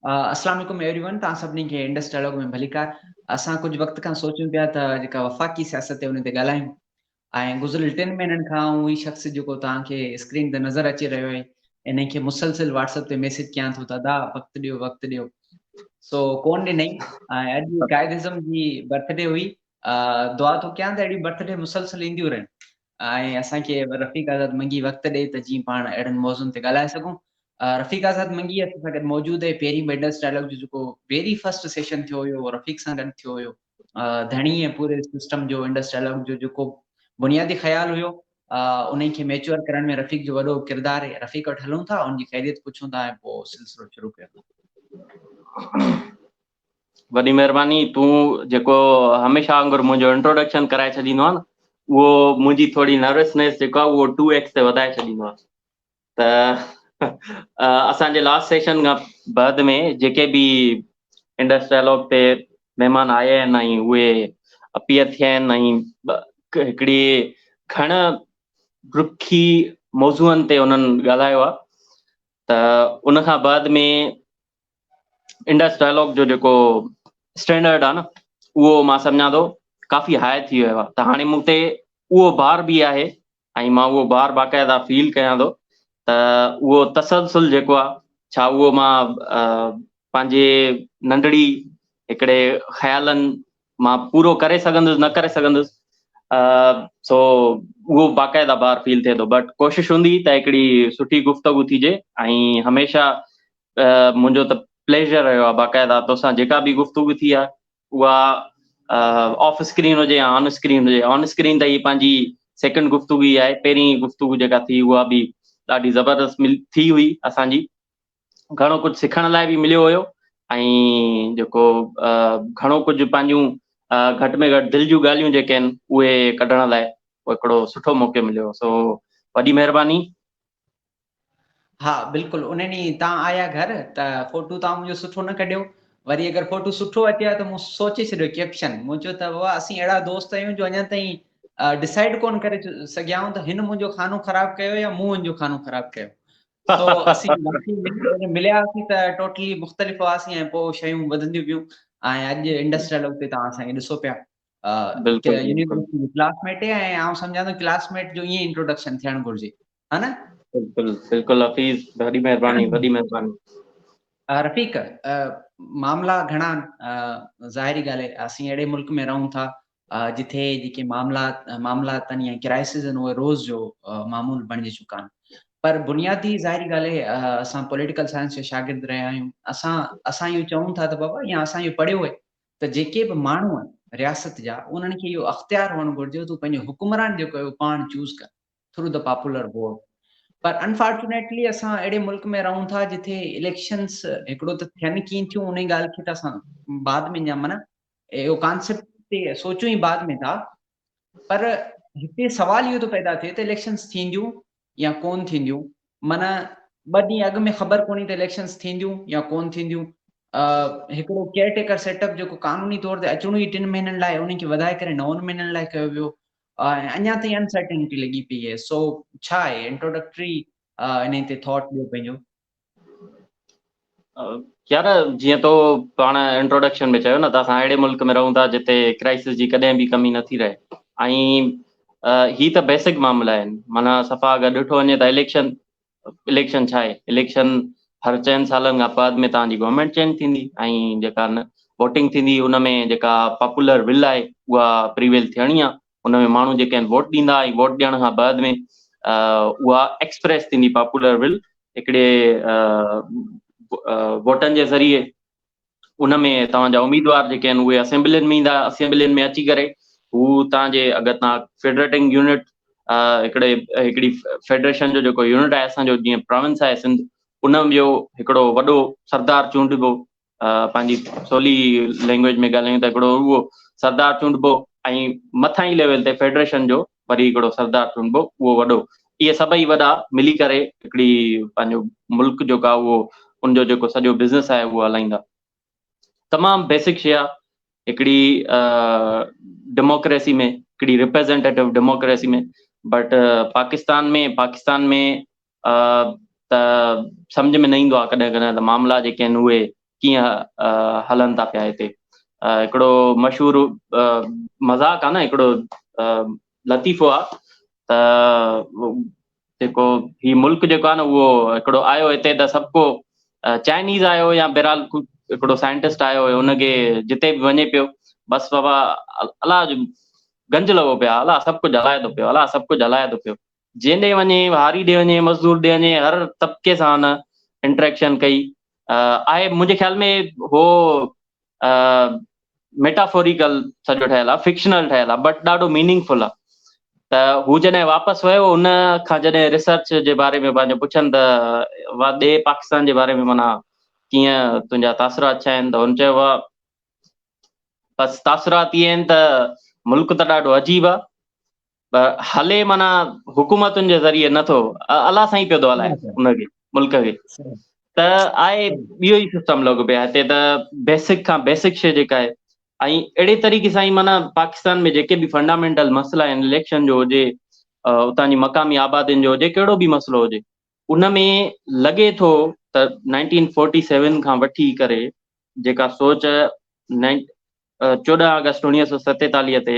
السلام عليڪم everyone توهان سڀني کي انڊس ڊائلاگ ۾ ڀليڪار اسان ڪجهه وقت کان سوچيون پيا ته جيڪا وفاقي سياست تي ان تي ڳالهايون ۽ گذريل ٽن مهينن کان آئون اهي شخص جيڪو توهان کي اسڪرين تي نظر اچي رهيو آهي انهي کي مسلسل واٽس اپ تي ميسج ڪيان ٿو ته ادا وقت ڏيو وقت ڏيو سو ڪون ڏنئي ۽ اڄ قائد اعظم جي برٿ ڊي هئي دعا ٿو ڪيان ته اهڙي برٿ ڊي مسلسل اينديون رهن ۽ اسان کي رفيق آزاد منگي وقت ڏئي ته جيئن پاڻ اهڙن موضوعن تي ڳالهائي سگهون. رفيق آزاد منگي اسان سان گڏ موجود آهي، پهرين وينڊرس ڊائلاگ جو جيڪو ويري فرسٽ سيشن ٿيو هيو اهو رفيق سان گڏ ٿيو هيو. ڌڻي ۽ پوري سسٽم جو وينڊرس ڊائلاگ جو جيڪو بنيادي خيال هيو انهي کي ميچوئر ڪرڻ ۾ رفيق جو وڏو ڪردار هي، رفيق وٽ هلون ٿا ان جي خيريت پڇون ٿا ۽ پوء سلسلو شروع ڪيون ٿا. وڏي مھرباني تون جيڪو ھميشه وانگر منھنجو انٽروڊڪشن ڪرائي ڇڏيندو آھين اھو منھنجي ٿوري نروسنيس جيڪو آھي اھو ٽو ايڪس تي وڌائي ڇڏيندو آھي ته اسان جي لاسٽ سيشن کان بعد ۾ جيڪي به انڊس ڊائلاگ تي مھمان آيا آھن ۽ اھي اپيئر ٿيا آھن ۽ ھڪڙي گھڻ رکي موضوعن تي انھن ڳالھايو آھي ته ان کان بعد ۾ انڊس ڊائلاگ جو جيڪو اسٽينڊرڊ آهي نه اهو مان سمجهان ٿو ڪافي هاء ٿي ويو آهي ته هاڻي مون تي اهو بار به آهي ۽ مان اهو بار باقاعده فيل ڪيان ٿو ته اهو تسلسل جيڪو آهي ڇا اهو مان پنهنجي ننڍڙي هڪڙي خيالن مان پورو ڪري سگهندس نه ڪري سگهندس سو اهو باقاعده بار فيل ٿئي ٿو بٽ ڪوشش هوندي ته هڪڙي سٺي گفتگو ٿيجي ۽ هميشه منهنجو ته پليزر رهيو آهي باقاعده توسان جيڪا به گفتگو ٿي آهي اها آف اسڪرين هجي يا آن اسڪرين هجي آن اسڪرين ته هي پنهنجي سيڪنڊ گفتگو ئي آهي پهرين گفتگو جيڪا ٿي اها به ڏاڍي زبردست مل ٿي هئي اسان جي گهڻو ڪجهه سکڻ لاء به مليو هيو ۽ جيڪو گهڻو ڪجهه پنهنجون گهٽ ۾ گهٽ دل جون ڳالهيون جيڪي آهن اهي ڪڍڻ لاء هڪڙو سٺو موقعو مليو سو وڏي مهرباني ها بلڪل ان ڏينهن تان آيا گهر ته فوٽو تان منهنجو سٺو نه ڪڍيو وري اگر فوٽو سٺو اچي ها ته مون سوچي ڇڏيو ڪيپشن مون چيو ته بابا اسين اهڙا دوست آهيون جو اڃا تائين ڊسائڊ ڪون ڪري سگهيا آهيون ته هن منهنجو کانو خراب ڪيو يا مون هن جو کانو خراب ڪيو تو اسين ملياسين ته ٽوٽلي مختلف هئاسين ۽ پوء شيون وڌنديون ويون ۽ اڄ انڊسٽريل اڳتي تان اسان کي ڏسو پيا يونيورسٽي جو ڪلاس ميٽ آهي ۽ آئون سمجهان ٿو ڪلاس ميٽ جو ائين انٽروڊڪشن ٿيڻ گهرجي ها نه بلڪل بلڪل حفيظ ڏاڍي مهرباني وڏي مهرباني رفيق معاملا گهڻا ظاهري ڳالهه آهي اسين اهڙي ملڪ ۾ رهون ٿا جتي جيڪي معاملا معاملا تن يا ڪرائسز آهن اهي روز جو معمول بڻجي چڪا آهن پر بنيادي ظاهري ڳالهه آهي اسان پوليٽيڪل سائنس جا شاگرد رهيا آهيون اسان اسان اهو چون ٿا ته بابا يا اسان اهو پڙهيو آهي ته جيڪي به ماڻهو آهن رياست جا انهن کي اهو اختيار هئڻ گهرجي تون پنهنجو حڪمران جيڪو آهي اهو پاڻ چوز ڪر ٿرو دي پاپولر ووٽ پر انفارچونيٽلي اسان اهڙي ملڪ ۾ رهون ٿا جٿي اليڪشنس هڪڙو ته ٿين ڪين ٿيون انهي ڳالهه کي ته اسان بعد ۾ اڃا معنيٰ اهو ڪانسيپٽ تي سوچون ئي بعد ۾ ٿا پر هتي سوال اهو ٿو پيدا ٿئي ته اليڪشنز ٿينديون يا ڪون ٿينديون معنيٰ ٻه ڏينهن اڳ ۾ خبر ڪونهي ته اليڪشنز ٿينديون يا ڪون ٿينديون هڪڙو ڪيئر ٽيڪر سيٽ اپ جيڪو قانوني طور تي اچڻو ئي ٽن مهينن لاء ان کي وڌائي ڪري نون مهينن لاء ڪيو ويو اڃا تائين انسرٽنٽي لڳي پئي آهي سو ڇا آهي انٽروڊڪٽري انهي تي ٿاٽ ڏيو پنهنجو يار جيئن تو پاڻ انٽروڊڪشن ۾ چيو نه ته اسان اهڙي ملڪ ۾ رهون ٿا جتي ڪرائسس جي ڪڏهن به ڪمي نٿي رهي ۽ هي ته بيسڪ معاملا آهن معنيٰ صفا اگر ڏٺو وڃي ته اليڪشن اليڪشن ڇا آهي اليڪشن هر چئن سالن کان بعد ۾ تان جي گورنمينٽ چينج ٿيندي ۽ جيڪا ووٽنگ ٿيندي ان ۾ جيڪا پاپولر ول آهي اها پريويل ٿيڻي آهي ان ۾ ماڻهو جيڪي آهن ووٽ ڏيندا ۽ ووٽ ڏيڻ کان بعد ۾ اها ايڪسپريس ٿيندي پاپولر ول هڪڙي ووٽن جي ذريعي ان ۾ توهان جا اميدوار جيڪي آهن اهي اسيمبلين ۾ ايندا اسيمبلين ۾ اچي ڪري هو تان جي اگر تان فيڊريٽنگ يونٽ هڪڙي هڪڙي فيڊريشن جو جيڪو يونٽ آهي اسان جو جيئن پراونس آهي سنڌ ان جو هڪڙو وڏو سردار چونڊبو پنهنجي سولي لينگويج ۾ ڳالهايون ته هڪڙو اهو سردار چونڊبو ۽ مٿانهين ليول تي فيڊريشن جو وري هڪڙو سردار چونڊبو اهو وڏو اهي سڀئي وڏا ملي ڪري هڪڙي پنهنجو ملڪ جو ڪا اهو ان جو جيڪو سڄو بزنس آهي اهو هلائيندا تمام بيسڪ شيء آهي هڪڙي ڊيموڪريسي ۾ هڪڙي representative democracy ۾ but Pakistan ۾ Pakistan ۾ ته سمجهه ۾ نه ايندو آهي ڪڏهن ڪڏهن ته معاملا جيڪي آهن اهي ڪيئن هلن ٿا پيا هتي هڪڙو مشهور مذاق آهي نه هڪڙو لطيفو آهي ته جيڪو هي ملڪ جيڪو آهي نه اهو هڪڙو آيو هتي ته سڀ ڪو چائنيز آيو يا بهرحال هڪڙو سائنٽسٽ آيو هيو ان کي جتي به وڃي پيو بس بابا الله جو گنج لڳو پيو الا سڀ ڪجهه هلائي ٿو پيو الا سڀ ڪجهه هلائي ٿو پيو جنهن ڏي وڃي، هاري ڏي وڃي، مزدور ڏي وڃي، هر طبقي سان هن انٽريڪشن ڪئي آهي. منهنجي خيال ۾ هو ميٽافوريڪل سڄو ٺهيل آهي، فڪشنل ٺهيل آهي، بٽ ڏاڍو ميننگ فل آهي. ته هو جڏهن واپس ويو، ان کان جڏهن ريسرچ جي باري ۾ پنهنجو پڇن ته وا ڏي پاڪستان جي باري ۾ منا ڪيئن تنهنجا تاثرات ڇا آهن؟ ته هن چيو وا بس تاثرات اي آهن ته ملڪ ته ڏاڍو عجيب آهي، ته هلي معنيٰ حڪومتن جي ذريعي نه ٿو الله سائين پيو ٿو هلائي ان کي ملڪ کي ته آء ٻيو ئي سسٽم لڳو پيو هتي ته بيسڪ کان بيسڪ شي جيڪا آهي ۽ اهڙي طريقي سان معنيٰ پاڪستان ۾ جيڪي به فنڊامينٽل مسئلا آهن اليڪشن جو هجي اتان جي مقامي آبادين جو هجي ڪهڙو به مسئلو هجي ان ۾ لڳي ٿو ته نائنٽين فورٽي سيون کان وٺي ڪري جيڪا سوچ چوڏهن آگسٽ اڻيهه سو ستيتاليهه تي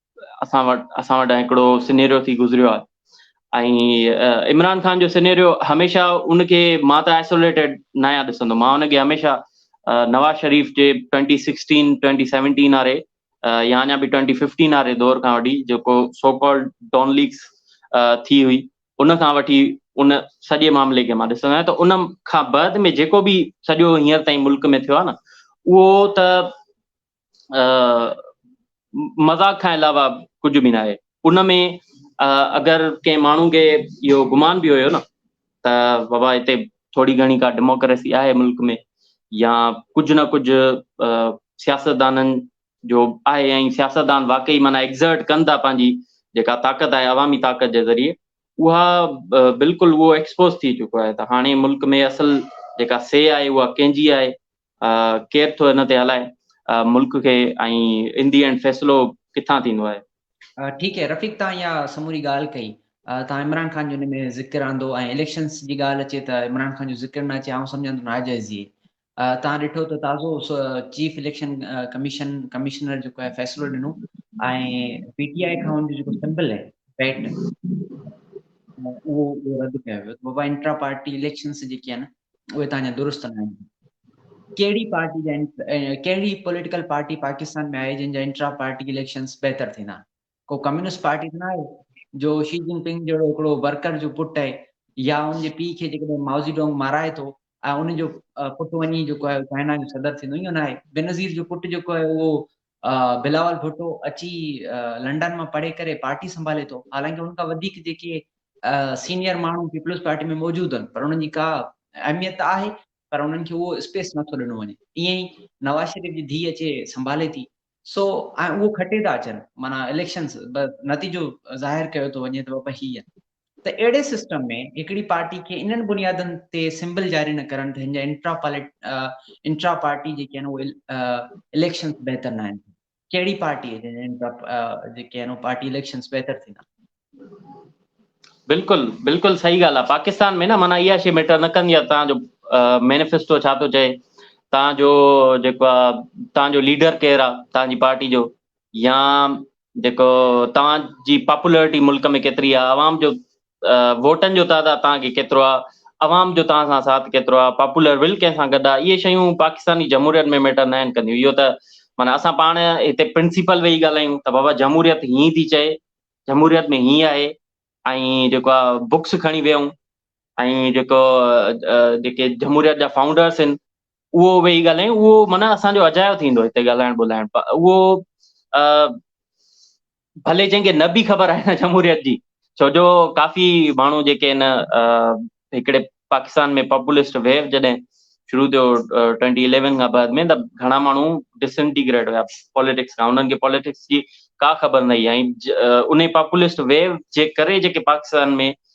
اسان وٽ اسان وٽ هڪڙو سينيريو ٿي گذريو آهي ۽ عمران خان جو سينيريو هميشه ان کي مان ته آئسوليٽيڊ نه آهيان ڏسندو مان ان کي هميشه نواز شريف جي ٽوئنٽي سڪسٽين ٽوئنٽي سيونٽين واري يا اڃا به ٽوئنٽي ففٽين واري دور کان وٺي جيڪو سو ڪالڊ ڊون ليگس ٿي هئي ان کان وٺي ان سڄي معاملي کي مان ڏسندو آهيان ته ان کان بعد ۾ جيڪو به سڄو هينئر تائين ملڪ ۾ ٿيو آهي نه اهو ته مذاق کان علاوه ڪجهه به ناهي ان ۾ اگر ڪنهن ماڻهو کي اهو گمان به هيو نه ته بابا هتي ٿوري گهڻي ڪا ڊيموڪريسي آهي ملڪ ۾ يا ڪجهه نه ڪجهه سياستدانن جو آهي ۽ سياستدان واقعي معنيٰ ايگزرٽ ڪن ٿا پنهنجي جيڪا طاقت آهي عوامي طاقت جي ذريعي اها بلڪل اهو ايڪسپوز ٿي چڪو آهي ته هاڻي ملڪ ۾ اصل جيڪا سي آهي اها ڪنهن جي آهي ڪير ٿو ان تي هلائي ملڪ کي ۽ ان دي اينڊ فيصلو ڪٿان ٿيندو آهي. ٺيڪ هي رفيق تهان اها سموري ڳالهه ڪئي تهان عمران خان جو ان ۾ ذڪر آندو ۽ اليڪشنس جي ڳالهه اچي ته عمران خان جو ذڪر نه اچي آئون سمجهان ٿو ناجائزي تهان ڏٺو ته تازو چيف اليڪشن ڪميشن ڪمشنر جيڪو آهي فيصلو ڏنو ۽ پي ٽي آئي کان ان جو جيڪو سمبل آهي پيٽ اهو رد ڪيو ويو بابا انٽرا پارٽي اليڪشنس جيڪي آهن اهي ته اڃا درست نه آهن. ڪهڙي پارٽي جا ڪهڙي پوليٽيڪل پارٽي پاڪستان ۾ آهي جن جا انٽرا پارٽي اليڪشنز بهتر ٿيندا؟ ڪو ڪميونسٽ پارٽي ته نه آهي جو شي جن پنگ جهڙو هڪڙو ورڪر جو پٽ آهي يا ان جي پيء کي جيڪڏهن ماوزي ڊونگ مارائي ٿو ۽ ان جو پٽ وڃي جيڪو آهي چائنا جو صدر ٿيندو اهو نه آهي بينظير جو پٽ جيڪو آهي اهو بلاول ڀٽو اچي لنڊن مان پڙهي ڪري پارٽي سنڀالي ٿو حالانڪه ان کان وڌيڪ جيڪي سينيئر ماڻهو پيپلز پارٽي ۾ موجود آهن پر انهن جي ڪا اهميت ته آهي پر انهن کي اهو اسپيس نٿو ڏنو وڃي ائين ئي نواز شريف جي ڌيء اچي سنڀالي ٿي سو ۽ اهو کٽي ٿا اچن معنيٰ اليڪشنز نتيجو ظاهر ڪيو ٿو وڃي ته بابا هي ته اهڙي سسٽم ۾ هڪڙي پارٽي کي انهن بنيادن تي سمبل جاري نه ڪرڻ ته هن جا انٽرا پالٽ انٽرا پارٽي جيڪي آهن اهي اليڪشنز بهتر نه آهن ڪهڙي پارٽي جن جا انٽرا جيڪي آهن پارٽي اليڪشنز بهتر ٿيندا بلڪل بلڪل صحيح ڳالهه آهي پاڪستان ۾ نه معنيٰ اها شي ميٽر نه ڪندي آهي تنهنجو مينيفيسٽو ڇا ٿو چئي تنهنجو جيڪو آهي تنهنجو ليڊر ڪير آهي تنهنجي پارٽي جو يا جيڪو توهان جي پاپولرٽي ملڪ ۾ ڪيتري آ عوام جو ووٽن جو تعداد توهان کي ڪيترو آ عوام جو توهان سان ساٿ ڪيترو آ پاپولر ول ڪنهن سان گڏ آ اهي شيون پاڪستاني جمهوريت ۾ ميٽر ناهن ڪنديون اهو ته معنيٰ اسان پاڻ هتي پرنسيپل ويهي ڳالهايون ته بابا جمهوريت هيئن ٿي چئي جمهوريت ۾ هيئن آهي ۽ جيڪو آ بڪس کڻي ويهون ۽ جيڪو جيڪي جمهوريت جا فائونڊرس آهن اهو ويهي ڳالهايون اهو معنيٰ اسان جو اجايو ٿيندو هتي ڳالهائڻ ٻولهائڻ اهو ڀلي جنهن کي نه به خبر آهي نه جمهوريت جي ڇو جو ڪافي ماڻهو جيڪي آهن هڪڙي پاڪستان ۾ پاپولسٽ ويو جڏهن شروع ٿيو ٽوئنٽي اليون کان بعد ۾ ته گهڻا ماڻهو ڊسنٽيگريٽ هيا پاليٽڪس کان انهن کي پاليٽڪس جي ڪا خبر نه هئي ۽ ان پاپولسٽ ويو جي ڪري جيڪي پاڪستان ۾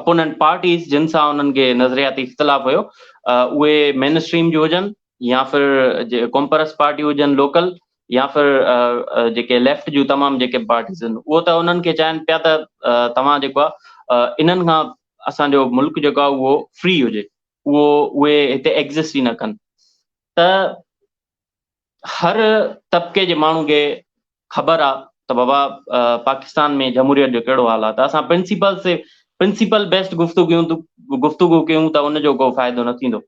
اپوننٽ پارٽيز جن سان انهن کي نظرياتي اختلاف هيو اهي مين اسٽريم جون هجن يا فر ڪومپرس پارٽيون هجن لوڪل يا فر جيڪي ليفٽ جون تمام جيڪي پارٽيز آهن اهو ته انهن کي چاهين پيا ته توهان جيڪو آهي انهن کان اسان جو ملڪ جيڪو آهي اهو فري هجي اهو اهي هتي ايگزسٽ ئي نه ڪن ته هر طبقي جي ماڻهو کي خبر آ ته بابا پاڪستان ۾ جمهوريت جو ڪهڙو حال آ ته اسان پرنسپل سي پرنسپل بيسٽ گفتگيون گفتگو ڪيون ته ان جو ڪو فائدو نه ٿيندو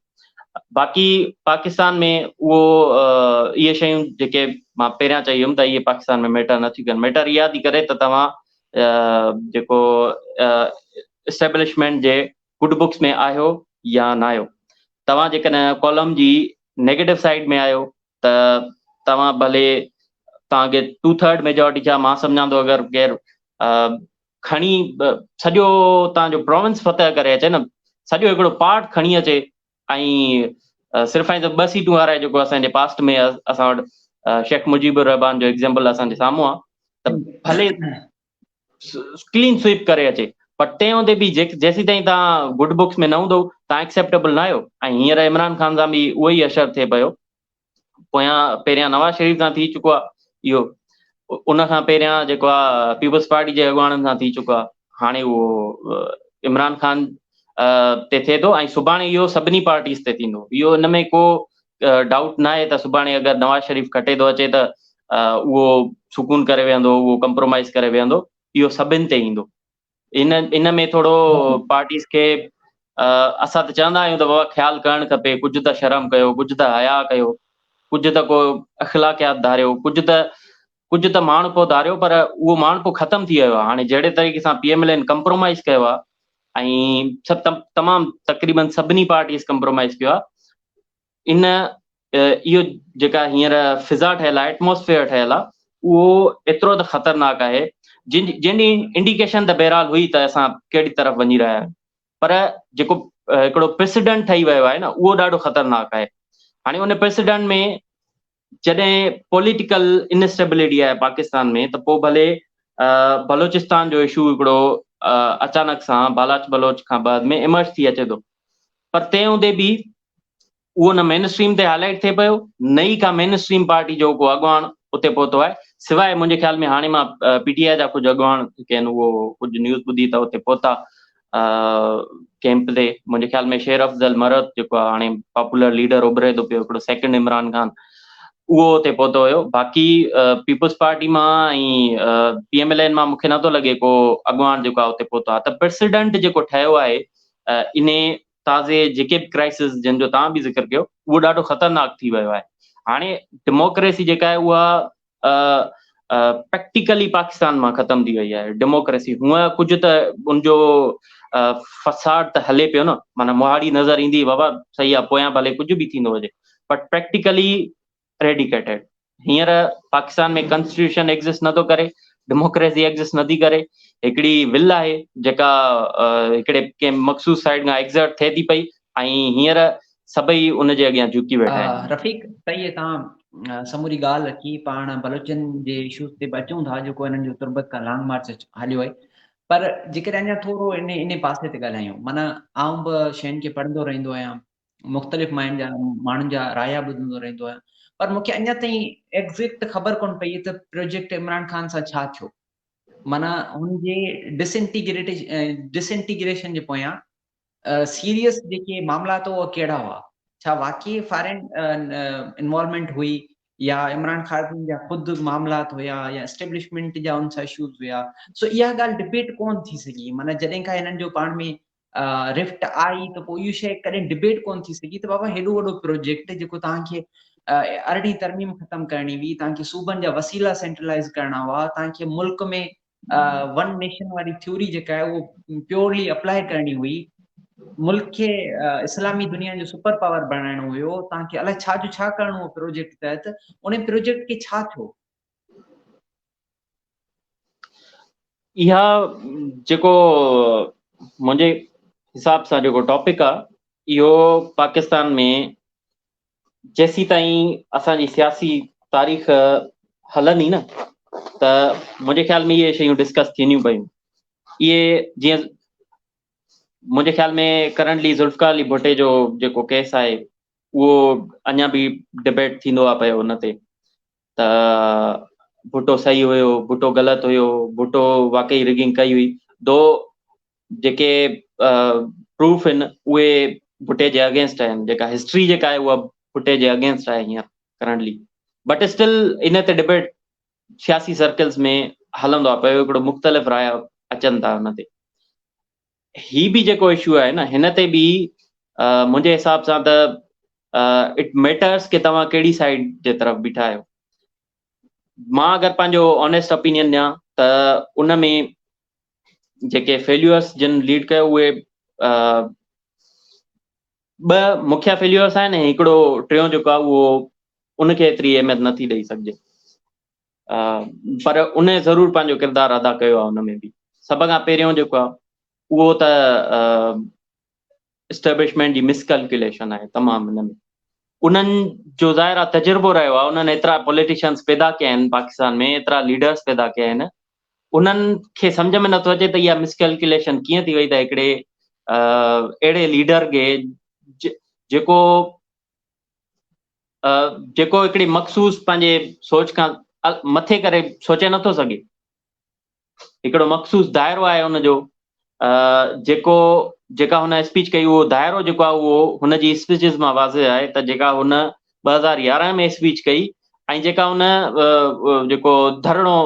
باقي پاڪستان ۾ اهو اهي شيون جيڪي مان پهريان چئي هيم ته اهي پاڪستان ۾ ميٽر نه ٿي ڪن ميٽر اها ٿي ڪري ته توهان جيڪو اسٽيبلشمينٽ جي گڊ بڪس ۾ آهيو يا ناهيو. توهان جيڪڏهن ڪالم جي نيگيٽو سائيڊ ۾ آهيو ته توهان ڀلي توهان کي ٽو ٿرڊ ميجارٽي ڇا مان سمجهان ٿو اگر غير کڻي سڄو توهان جو پروونس فتح ڪري اچي نه سڄو هڪڙو پارٽ کڻي اچي ۽ صرف ۽ صرف ٻه سيٽون هارائي جيڪو اسان جي پاسٽ ۾ اسان وٽ شيخ مجيب الرحمان جو ايگزامپل اسان جي سامهون آهي ته ڀلي ڪلين سوئپ ڪري اچي پر تنهن هوندي به جيسيتائين توهان گڊ بڪس ۾ نه هوندؤ توهان ايڪسيپٽيبل نه آهيو ۽ هينئر عمران خان سان به اهو ئي حشر ٿئي پيو پويان پهريان نواز شريف سان ٿي چڪو آهي اهو ان کان پهريان جيڪو آهي پيپلز پارٽي جي اڳواڻن سان ٿي چڪو آهي هاڻي اهو عمران خان تي ٿئي ٿو ۽ سڀاڻي اهو سڀني پارٽيز تي ٿيندو اهو ان ۾ ڪو ڊائوٽ ناهي ته سڀاڻي اگر نواز شريف کٽي ٿو اچي ته اهو سڪون ڪري ويهندو اهو ڪمپرومائز ڪري ويهندو اهو سڀن تي ايندو ان ان ۾ ٿورو پارٽيز کي اسان ته چوندا آهيون ته بابا خيال ڪرڻ کپي ڪجهه ته شرم ڪيو ڪجهه ته حيا ڪيو ڪجهه ته ڪو اخلاقيات ڌاريو ڪجهه ته ڪجهه ته ماڻهپو ڌاريو پر اهو ماڻهپو ختم ٿي ويو آهي هاڻي جهڙي طريقي سان P M L N compromise ڪيو آهي ۽ سڀ تمام تقريبن سڀني پارٽيز ڪمپرومائز ڪيو آهي ان اهو جيڪا هينئر فضا ٺهيل آهي Atmosphere ٺهيل آهي اهو ايترو ته خطرناڪ آهي جن جنهن Indication ته بهرحال هئي ته اسان ڪهڙي طرف وڃي رهيا آهيون پر جيڪو هڪڙو President ٺهي ويو آهي نه اهو ڏاڍو خطرناڪ آهي هاڻي ان President ۾ جڏهن پوليٽيڪل انسٽيبلٽي آهي پاڪستان ۾ ته پوء ڀلي بلوچستان جو اشو هڪڙو اچانڪ سان بالاچ بلوچ کان بعد ۾ ايمرج ٿي اچي ٿو پر تنهن هوندي به اهو نه مين اسٽريم تي هاء لائٽ ٿئي پيو نه ئي ڪا مين اسٽريم پارٽي جو ڪو اڳواڻ اتي پهتو آهي سواء منهنجي خيال ۾ هاڻي مان پي ٽي آء جا ڪجهه اڳواڻ ڪين اهو ڪجهه نيوز ٻڌي ته اتي پهتا ڪيمپ تي منهنجي خيال ۾ شير افضل مرهٽ جيڪو هاڻي پاپولر ليڊر اڀري ٿو پيو هڪڙو سيڪنڊ عمران خان اهو اتي پهتو هيو باقي پيپلز پارٽي مان ۽ پي ايم ايل اين مان مون کي نٿو لڳي ڪو اڳواڻ جيڪو اتي پهتو آهي ته پريسيڊنٽ جيڪو ٺهيو آهي ان تازي جيڪي به ڪرائسز جن جو تان به ذڪر ڪيو اهو ڏاڍو خطرناڪ ٿي ويو آهي هاڻي ڊيموڪريسي جيڪا آهي اها پريڪٽيڪلي پاڪستان مان ختم ٿي وئي آهي ڊيموڪريسي هونئن ڪجهه ته ان جو فساد ته هلي پيو نه معنيٰ مهاڙي نظر ايندي بابا صحيح آهي پويان ڀلي ڪجهه به ٿيندو هجي بٽ پريڪٽيڪلي ريڊيڪيٽيڊ هينئر پاڪستان ۾ ڪانسٽيٽيوشن ايگزسٽ نٿو ڪري ڊيموڪريسي ايگزسٽ نٿي ڪري هڪڙي ول آهي جيڪا هڪڙي ڪنهن مخصوص سائيڊ کان ايگزرٽ ٿئي ٿي پئي ۽ هينئر سڀئي ان جي اڳيان جهڪي ويٺا آهن. رفيق تئي تان سموري ڳالهه رکي پاڻ بلوچن جي اشوز تي به اچون ٿا جيڪو انهن جو تربت کان لانگ مارچ هليو آهي پر جيڪڏهن اڃا ٿورو ان ان پاسي تي ڳالهايون معنيٰ آئون به شين کي پڙهندو رهندو آهيان مختلف ماين جا ماڻهن جا رايا ٻڌندو رهندو آهيان پر مون کي اڃا تائين ايگزيڪٽ خبر ڪون پئي ته پروجيڪٽ عمران خان سان ڇا ٿيو معنيٰ هن جي ڊس انٽيگريٽ ڊس انٽيگريشن جي پويان سيريس جيڪي معاملا تو اهي ڪهڙا هئا؟ ڇا واقعي فارين انوالومينٽ هئي يا عمران خارجين جا خود معاملات هيا يا اسٽيبلشمينٽ جا ان سان اشوز هيا سو اها ڳالهه ڊبيٽ ڪون ٿي سگهي معنيٰ جڏهن کان هنن جو پاڻ ۾ رفٽ آئي ته پوء اهو شيء ڪڏهن ڊبيٽ ڪون ٿي سگهي ته بابا هيڏو وڏو پروجيڪٽ جيڪو توهان کي ارڙهين ترميم ختم ڪرڻي هئي توهان کي صوبن جا وسيلا سينٽرلائز ڪرڻا هئا توهان کي ملڪ ۾ ون نيشن واري ٿيوري جيڪا آهي اهو پيورلي اپلائي ڪرڻي هئي ملڪ کي اسلامي دنيا جو سپر پاور بڻائڻو هيو تان کي الائي ڇا جو ڇا ڪرڻو هو پروجيڪٽ تحت ان پروجيڪٽ کي ڇا ٿيو اها جيڪو منهنجي حساب سان جيڪو ٽاپڪ آهي اهو پاڪستان ۾ جيسيتائين اسان جي سياسي تاريخ هلندي نه ته منهنجي خيال ۾ اهي شيون ڊسڪس ٿينديون پيون اهي جيئن منهنجي خيال ۾ ڪرنٽلي ذوالفقار علي ڀٽي جو جيڪو ڪيس آهي اهو اڃا به ڊبيٽ ٿيندو آهي پيو ان تي ته ڀٽو صحيح هيو، ڀٽو غلط هيو، ڀٽو واقعي رگنگ ڪئي هئي، دو جيڪي پروف آهن اهي ڀٽي جي اگينسٽ آهن، جيڪا هسٽري جيڪا آهي اها ڀٽي جي اگينسٽ آهي هينئر ڪرنٽلي بٽ اسٽل ان تي ڊبيٽ سياسي سرڪلز ۾ هلندو آهي پيو هڪڙو مختلف رايا اچن ٿا ان تي هي به جيڪو اشو آهي نه هن تي به منهنجي حساب سان ته اٽ ميٽرس ڪي توهان ڪهڙي سائيڊ جي طرف بيٺا آهيو مان اگر پنهنجو آنيسٽ اپينين ڏيان ته ان ۾ جيڪي فيليورس جن ليڊ ڪيو اهي ٻ مکيا فيليورس آهن هڪڙو ٽيون جيڪو آهي اهو ان کي ايتري اهميت نٿي ڏئي سگهجي پر ان ضرور پنهنجو ڪردار ادا ڪيو آهي ان ۾ به سڀ کان پهريون جيڪو آهي اهو ته اسٽيبلشمينٽ جي مس ڪلڪيوليشن آهي تمام ان ۾ انهن جو ظاهر آهي تجربو رهيو آهي انهن ايترا پوليٽيشنس پيدا ڪيا آهن پاڪستان ۾ ايترا ليڊرس پيدا ڪيا آهن انهن کي سمجھ ۾ نٿو اچي ته اها مس ڪلڪيوليشن ڪيئن ٿي وئي ته هڪڙي اهڙي ليڊر کي جيڪو جيڪو هڪڙي مخصوص پنهنجي سوچ کان مٿي ڪري سوچي نٿو سگهي هڪڙو مخصوص دائرو آهي ان جو جيڪو جيڪا هن اسپيچ ڪئي اهو دائرو جيڪو آهي اهو هن جي اسپيچز مان واضح آهي ته جيڪا هن ٻه هزار يارهن ۾ اسپيچ ڪئي ۽ جيڪا هن جيڪو ڌرڻو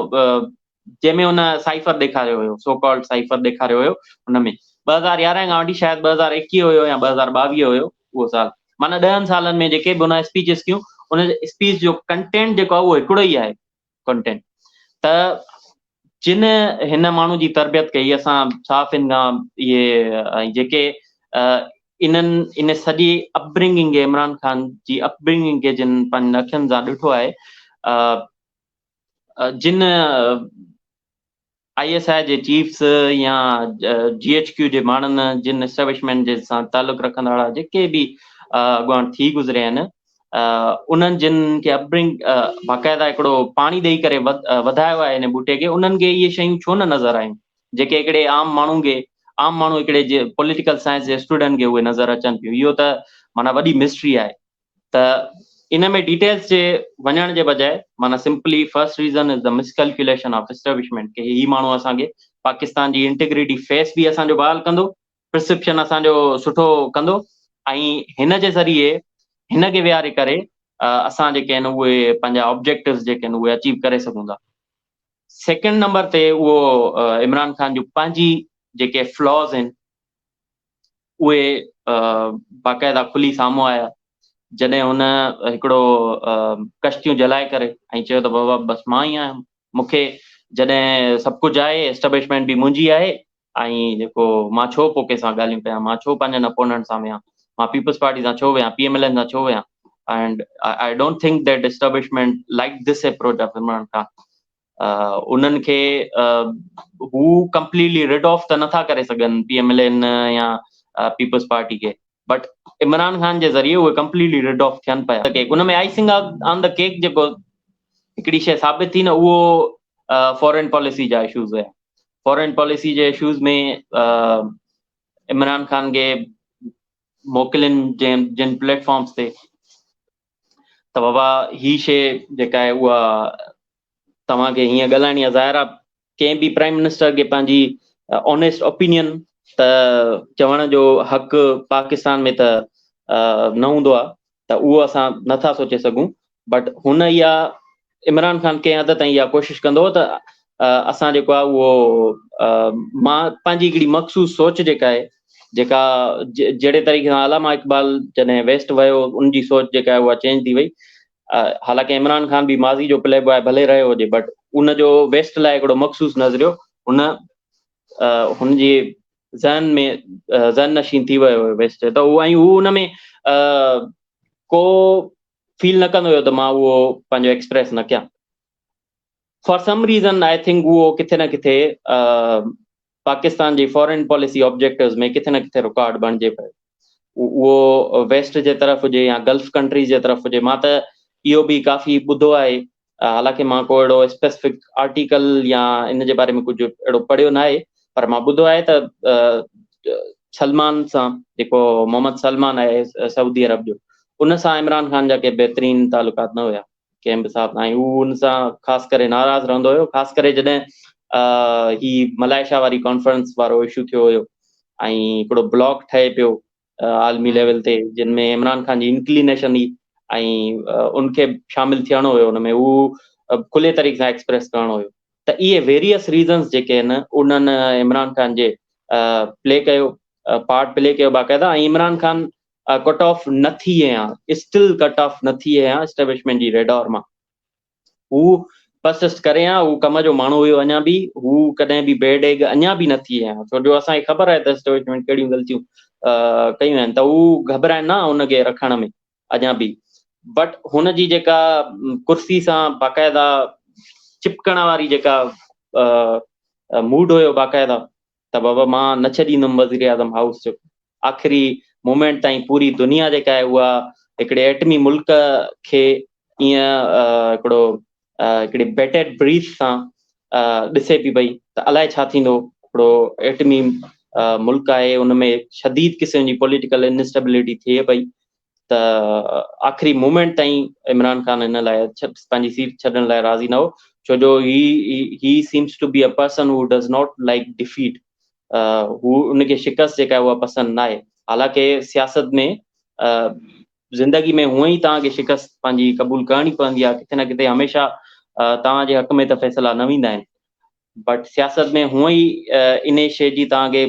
جنهن ۾ هن سائفر ڏيکاريو هيو، سو ڪالڊ سائفر ڏيکاريو هيو، ان ۾ ٻه هزار يارهن کان وٺي شايد ٻه هزار ايڪيهه هيو يا ٻه هزار ٻاويهه هيو اهو سال معنيٰ ڏهن سالن ۾ جيڪي به هن اسپيچز ڪيون ان جي اسپيچ جو ڪنٽينٽ جيڪو آهي اهو هڪڙو ئي آهي ڪنٽينٽ ته جن هن ماڻهو جي تربيت ڪئي اسان صحافين کان اهي جيڪي انهن ان سڄي اپبرنگنگ کي عمران خان جي اپبرنگنگ کي جن پنهنجن اکين سان ڏٺو آهي جن آء ايس آء جي چيفس يا جي ايڇ ڪيو جي ماڻهن جن اسٽيبلشمينٽ جي سان تعلق رکندڙ وارا جيڪي به اڳواڻ ٿي گذريا آهن انهن جن کي اپبرنگ باقاعده هڪڙو پاڻي ڏيئي ڪري وڌايو آهي هن ٻوٽي کي انهن کي اهي شيون ڇو نه نظر آيون جيڪي هڪڙي عام ماڻهو کي عام ماڻهو هڪڙي جي پوليٽيڪل سائنس جي اسٽوڊنٽ کي اهي نظر اچن ٿيون اهو ته معنيٰ وڏي مسٽري آهي ته ان ۾ ڊيٽيلز جي وڃڻ جي بجاء معنيٰ simply first reason is the miscalculation of establishment ڪي هي ماڻهو اسان کي پاڪستان جي انٽيگريٽي فيس به اسان جو بحال ڪندو پرسپشن اسان جو سٺو ڪندو ۽ هن جي ذريعي هن کي ويهاري ڪري اسان جيڪي آهن اهي پنهنجا آبجيڪٽوز جيڪي آهن اهي اچيو ڪري سگهون ٿا سيڪنڊ نمبر تي اهو عمران خان جون پنهنجي جيڪي فلاز آهن اهي باقاعده کلي سامهون آيا، جڏهن هن هڪڙو ڪشتيون جلائي ڪري ۽ چيو ته بابا بس مان ئي آهيان، مون کي جڏهن سڀ ڪجهه آهي، اسٽبلشمينٽ به منهنجي آهي ۽ جيڪو مان ڇو پوء ڪنهن سان ڳالهيون ڪيان، مان ڇو پنهنجن اپوننٽ سان ويهان، مان پيپلز پارٽي سان ڇو ويهان، پي ايم ايل اين سان ڇو ويهان، and I don't think that establishment like this approach of Imran Khan. انهن کي هو ڪمپليٽلي رڊ آف ته نٿا ڪري سگهن پي ايم ايل اين يا پيپلز پارٽي کي بٽ عمران خان جي ذريعي اهي ڪمپليٽلي رڊ آف ٿين پيا ڪيڪ ان ۾ آئسنگ آن دا ڪيڪ جيڪو هڪڙي شيء ثابت ٿي نه اهو فارين پاليسي جا اشوز هيا فارين پاليسي جي اشوز ۾ عمران خان کي موڪلين جن پليٽ فارمز تي ته بابا هي شيء جيڪا آهي اها توهان کي هيئن ڳالهائڻي آهي ظاهر آهي ڪنهن به پرائم منسٽر کي پنهنجي آنيسٽ اوپينين ته چوڻ جو حق پاڪستان ۾ ته نه هوندو آهي ته اهو اسان نٿا سوچي سگهون بٽ هن اها عمران خان ڪنهن حد تائين اها ڪوشش ڪندو ته اسان جيڪو آهي اهو مان پنهنجي هڪڙي مخصوص سوچ جيڪا آهي جيڪا جهڙي طريقي سان علامه اقبال جڏهن ويسٽ ويو ان جي سوچ جيڪا آهي اها چينج ٿي وئي حالانڪه عمران خان به ماضي جو پلي بوائي ڀلي رهيو هجي بٽ ان جو ويسٽ لاء هڪڙو مخصوص نظريو ان هن جي ذهن ۾ ذهن نشين ٿي ويو ويسٽ ته ان ۾ ڪو فيل نه ڪندو هيو ته مان اهو پنهنجو ايڪسپريس نه ڪيان for some reason I think اهو ڪٿي نه ڪٿي پاڪستان جي فارين پاليسي آبجيڪٽوز ۾ ڪٿي نه ڪٿي رڪارڊ بڻجي پيو اهو ويسٽ جي طرف هجي يا گلف ڪنٽريز جي طرف هجي مان ته اهو به ڪافي ٻڌو آهي حالانڪه مان ڪو اهڙو اسپيسفڪ آرٽيڪل يا ان جي باري ۾ ڪجهه اهڙو پڙهيو ناهي پر مان ٻڌو آهي ته سلمان سان جيڪو محمد سلمان آهي سعودي عرب جو ان سان عمران خان جا ڪي بهترين تعلقات نه هيا ڪنهن به حساب سان هو ان سان خاص ڪري ناراض رهندو هيو خاص ڪري جڏهن هي ملائيشيا واري ڪانفرنس وارو اشو ٿيو هيو ۽ هڪڙو بلاڪ ٺهي پيو عالمي ليول تي جن ۾ عمران خان جي انڪلينيشن هئي ۽ ان کي شامل ٿيڻو هيو ان ۾ هو کلي طريقي سان ايڪسپريس ڪرڻو هيو ته اهي ويريس ريزنس جيڪي آهن انهن عمران خان جي پلي ڪيو پارٽ پلي ڪيو باقاعده ۽ عمران خان ڪٽ آف نه ٿي هيا اسٽل ڪٽ آف نه ٿي هيا اسٽيبلشمنٽ جي ريڊار مان هو پسست ڪري ها هو ڪم جو ماڻهو هيو اڃا به هو ڪڏهن به بي ڊيگ اڃا به نه ٿي ها ڇو جو اسان کي خبر آهي ته اسٽيبلشمينٽ ڪهڙيون غلطيون ڪيون آهن ته هو گهبرائن نه ان کي رکڻ ۾ اڃا به بٽ هن جي جيڪا ڪرسي سان باقاعده چپڪڻ واري جيڪا موڊ هيو باقاعده ته بابا مان نه ڇڏيندم وزيراعظم هائوس جو آخري مومينٽ تائين پوري دنيا جيڪا آهي اها هڪڙي ايٽمي ملڪ کي ائين هڪڙو هڪڙي بيٽيڊ بريٿ سان ڏسي پي پئي ته الائي ڇا ٿيندو هڪڙو ايٽمي ملڪ آهي ان ۾ شديد قسم جي پوليٽيڪل انسٽيبلٽي ٿئي پئي ته آخري مومينٽ تائين عمران خان هن لاء پنهنجي سيٽ ڇڏڻ لاء راضي نه هو ڇو جو he he seems to be a person who does not like defeat هو ان کي شڪست جيڪا اها پسند نه آهي حالانڪه سياست ۾ زندگي ۾ هونء ئي توهان کي شڪست پنهنجي قبول ڪرڻي پوندي آهي ڪٿي نه ڪٿي هميشه توهان جي حق ۾ ته فيصلا نه ويندا آهن بٽ سياست ۾ هونء ئي ان شي جي توهان کي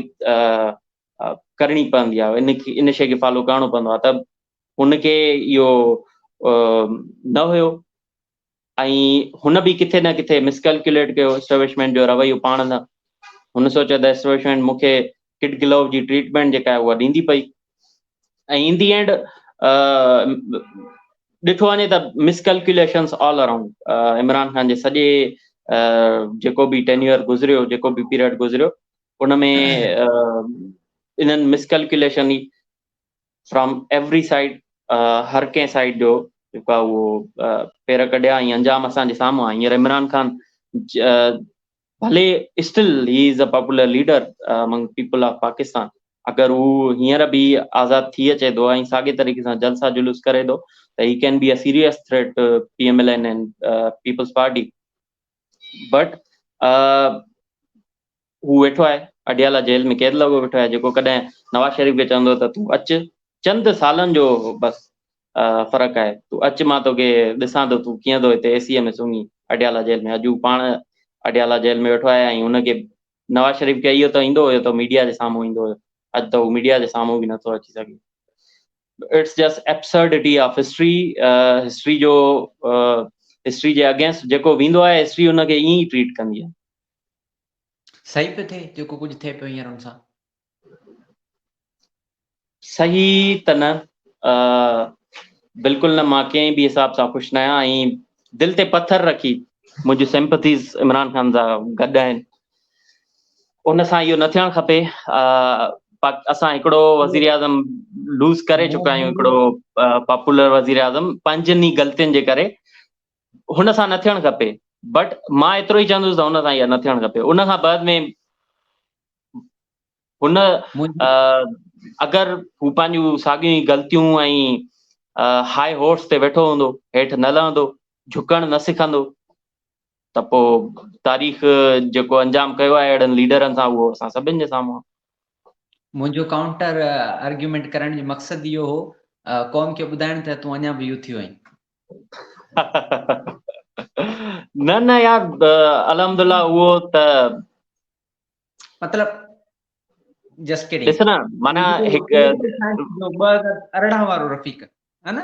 ڪرڻي پوندي آهي ان کي ان شيء کي فالو ڪرڻو پوندو آهي ته ان کي اهو نه هيو ۽ هن به ڪٿي نه ڪٿي مسڪلڪيوليٽ ڪيو اسٽيبلشمينٽ جو رويو پاڻ نه هن سوچيو ته اسٽيبلشمينٽ مون کي ڪٽ گلو جي ٽريٽمينٽ جيڪا آهي اها ڏيندي پئي ۽ ان دي اينڊ ڏٺو وڃي ته miscalculations all around Imran Khan جي سڄي جيڪو به ٽينيور گذريو جيڪو به پيريڊ گذريو ان ۾ انهن مس ڪلڪيوليشن ئي فرام ايوري سائيڊ هر ڪنهن سائيڊ جو جيڪو آهي اهو پير ڪڍيا ۽ انجام اسان جي سامهون آهي هينئر عمران خان ڀلي still he is a popular leader among people of Pakistan اگر هو هينئر به آزاد ٿي اچي ٿو ۽ ساڳي طريقي سان جلسا جلوس ڪري ٿو ته he can be a serious threat P M L N and Peoples Party but هو ويٺو آهي اڊيالا جيل ۾ قيد لڳو ويٺو آهي جيڪو ڪڏهن نواز شريف کي چوندو ته تون اچ چند سالن جو بس فرق آهي تون اچ مان توکي ڏسان ٿو تون ڪيئن ٿو هتي اي سي ايم ۾ سمهين اڊيالا جيل ۾ اڄ هو پاڻ اڊيالا جيل ۾ ويٺو آهي ۽ هن کي نواز شريف کي اهو ته ايندو هيو ته ميڊيا جي سامهون ايندو هيو اڄ ته هو ميڊيا جي سامهون به نٿو اچي سگهي it's just absurdity of history history جو هسٽري جي اگينسٽ جيڪو ويندو آهي هسٽري ان کي ائين ئي ٽريٽ ڪندي آهي صحيح پيو ٿئي جيڪو ڪجهه ٿئي پيو هينئر ان سان صحيح ته نه بلڪل نه مان ڪنهن به حساب سان خوش نه آهيان ۽ دل تي پٿر رکي منهنجي سمپٿيز عمران خان سان گڏ آهن ان سان اهو نه ٿيڻ کپي اسان هڪڙو وزيراعظم لوز ڪري چڪا آهيون هڪڙو پاپولر وزيراعظم پنهنجن ئي غلطين جي ڪري هن سان نه ٿيڻ کپي بٽ مان ايترو ئي چوندس ته هن سان اها نه ٿيڻ کپي ان کان بعد ۾ هن اگر هو پنهنجون ساڳيون غلطيون ۽ هاء هورس تي ويٺو هوندو هيٺ نه لهندو جهڪڻ نه سکندو ته پوء تاريخ جيڪو انجام ڪيو آهي اهڙن ليڊرن سان اهو اسان سڀن جي سامهون آهي. منهنجو ڪائونٽر آرگيومينٽ ڪرڻ جو مقصد اهو هو قوم کي ٻڌائڻ ته تون اڃا به يوٿ ئي آهين. نه نه يار الحمدلله اهو ته مطلب جسٽ ڪيڊنگ ڏس نه معنيٰ هڪ جو ٻه هزار ارڙهن وارو رفيق ها نه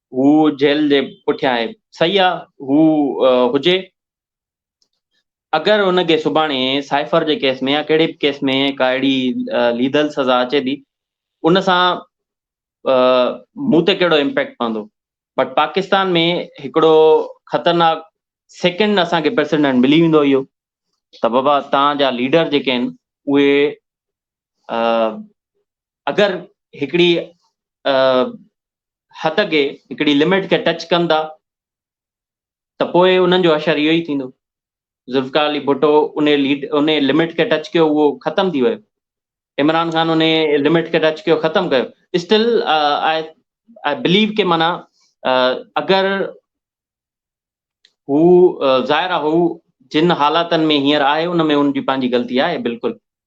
هو جيل جي پٺيان آهي. صحيح آ هو هجي. اگر هن کي سڀاڻي سائفر جي ڪيس ۾ يا ڪهڙي به ڪيس ۾ ڪا اهڙي ليدل سزا اچي ٿي ان سان مون تي ڪهڙو امپيڪٽ پوندو بٽ پاڪستان ۾ هڪڙو خطرناڪ سيڪنڊ اسان کي پريسيڊنٽ ملي ويندو اهو ته بابا تان جا ليڊر جيڪي آهن اهي اگر هڪڙي حد کي هڪڙي لمٽ کي ٽچ ڪن ٿا ته پوء انهن جو حشر اهو ئي ٿيندو. ذوالفقار علي ڀٽو انهي ليڊ انهي لمٽ کي ٽچ ڪيو اهو ختم ٿي ويو. عمران خان انهي لمٽ کي ٽچ ڪيو ختم ڪيو. اسٽل آء آء بليو ڪي معنيٰ اگر هو ظاهر آ هو جن حالاتن ۾ هينئر آهي ان ۾ ان جي پنهنجي غلطي آهي بلڪل.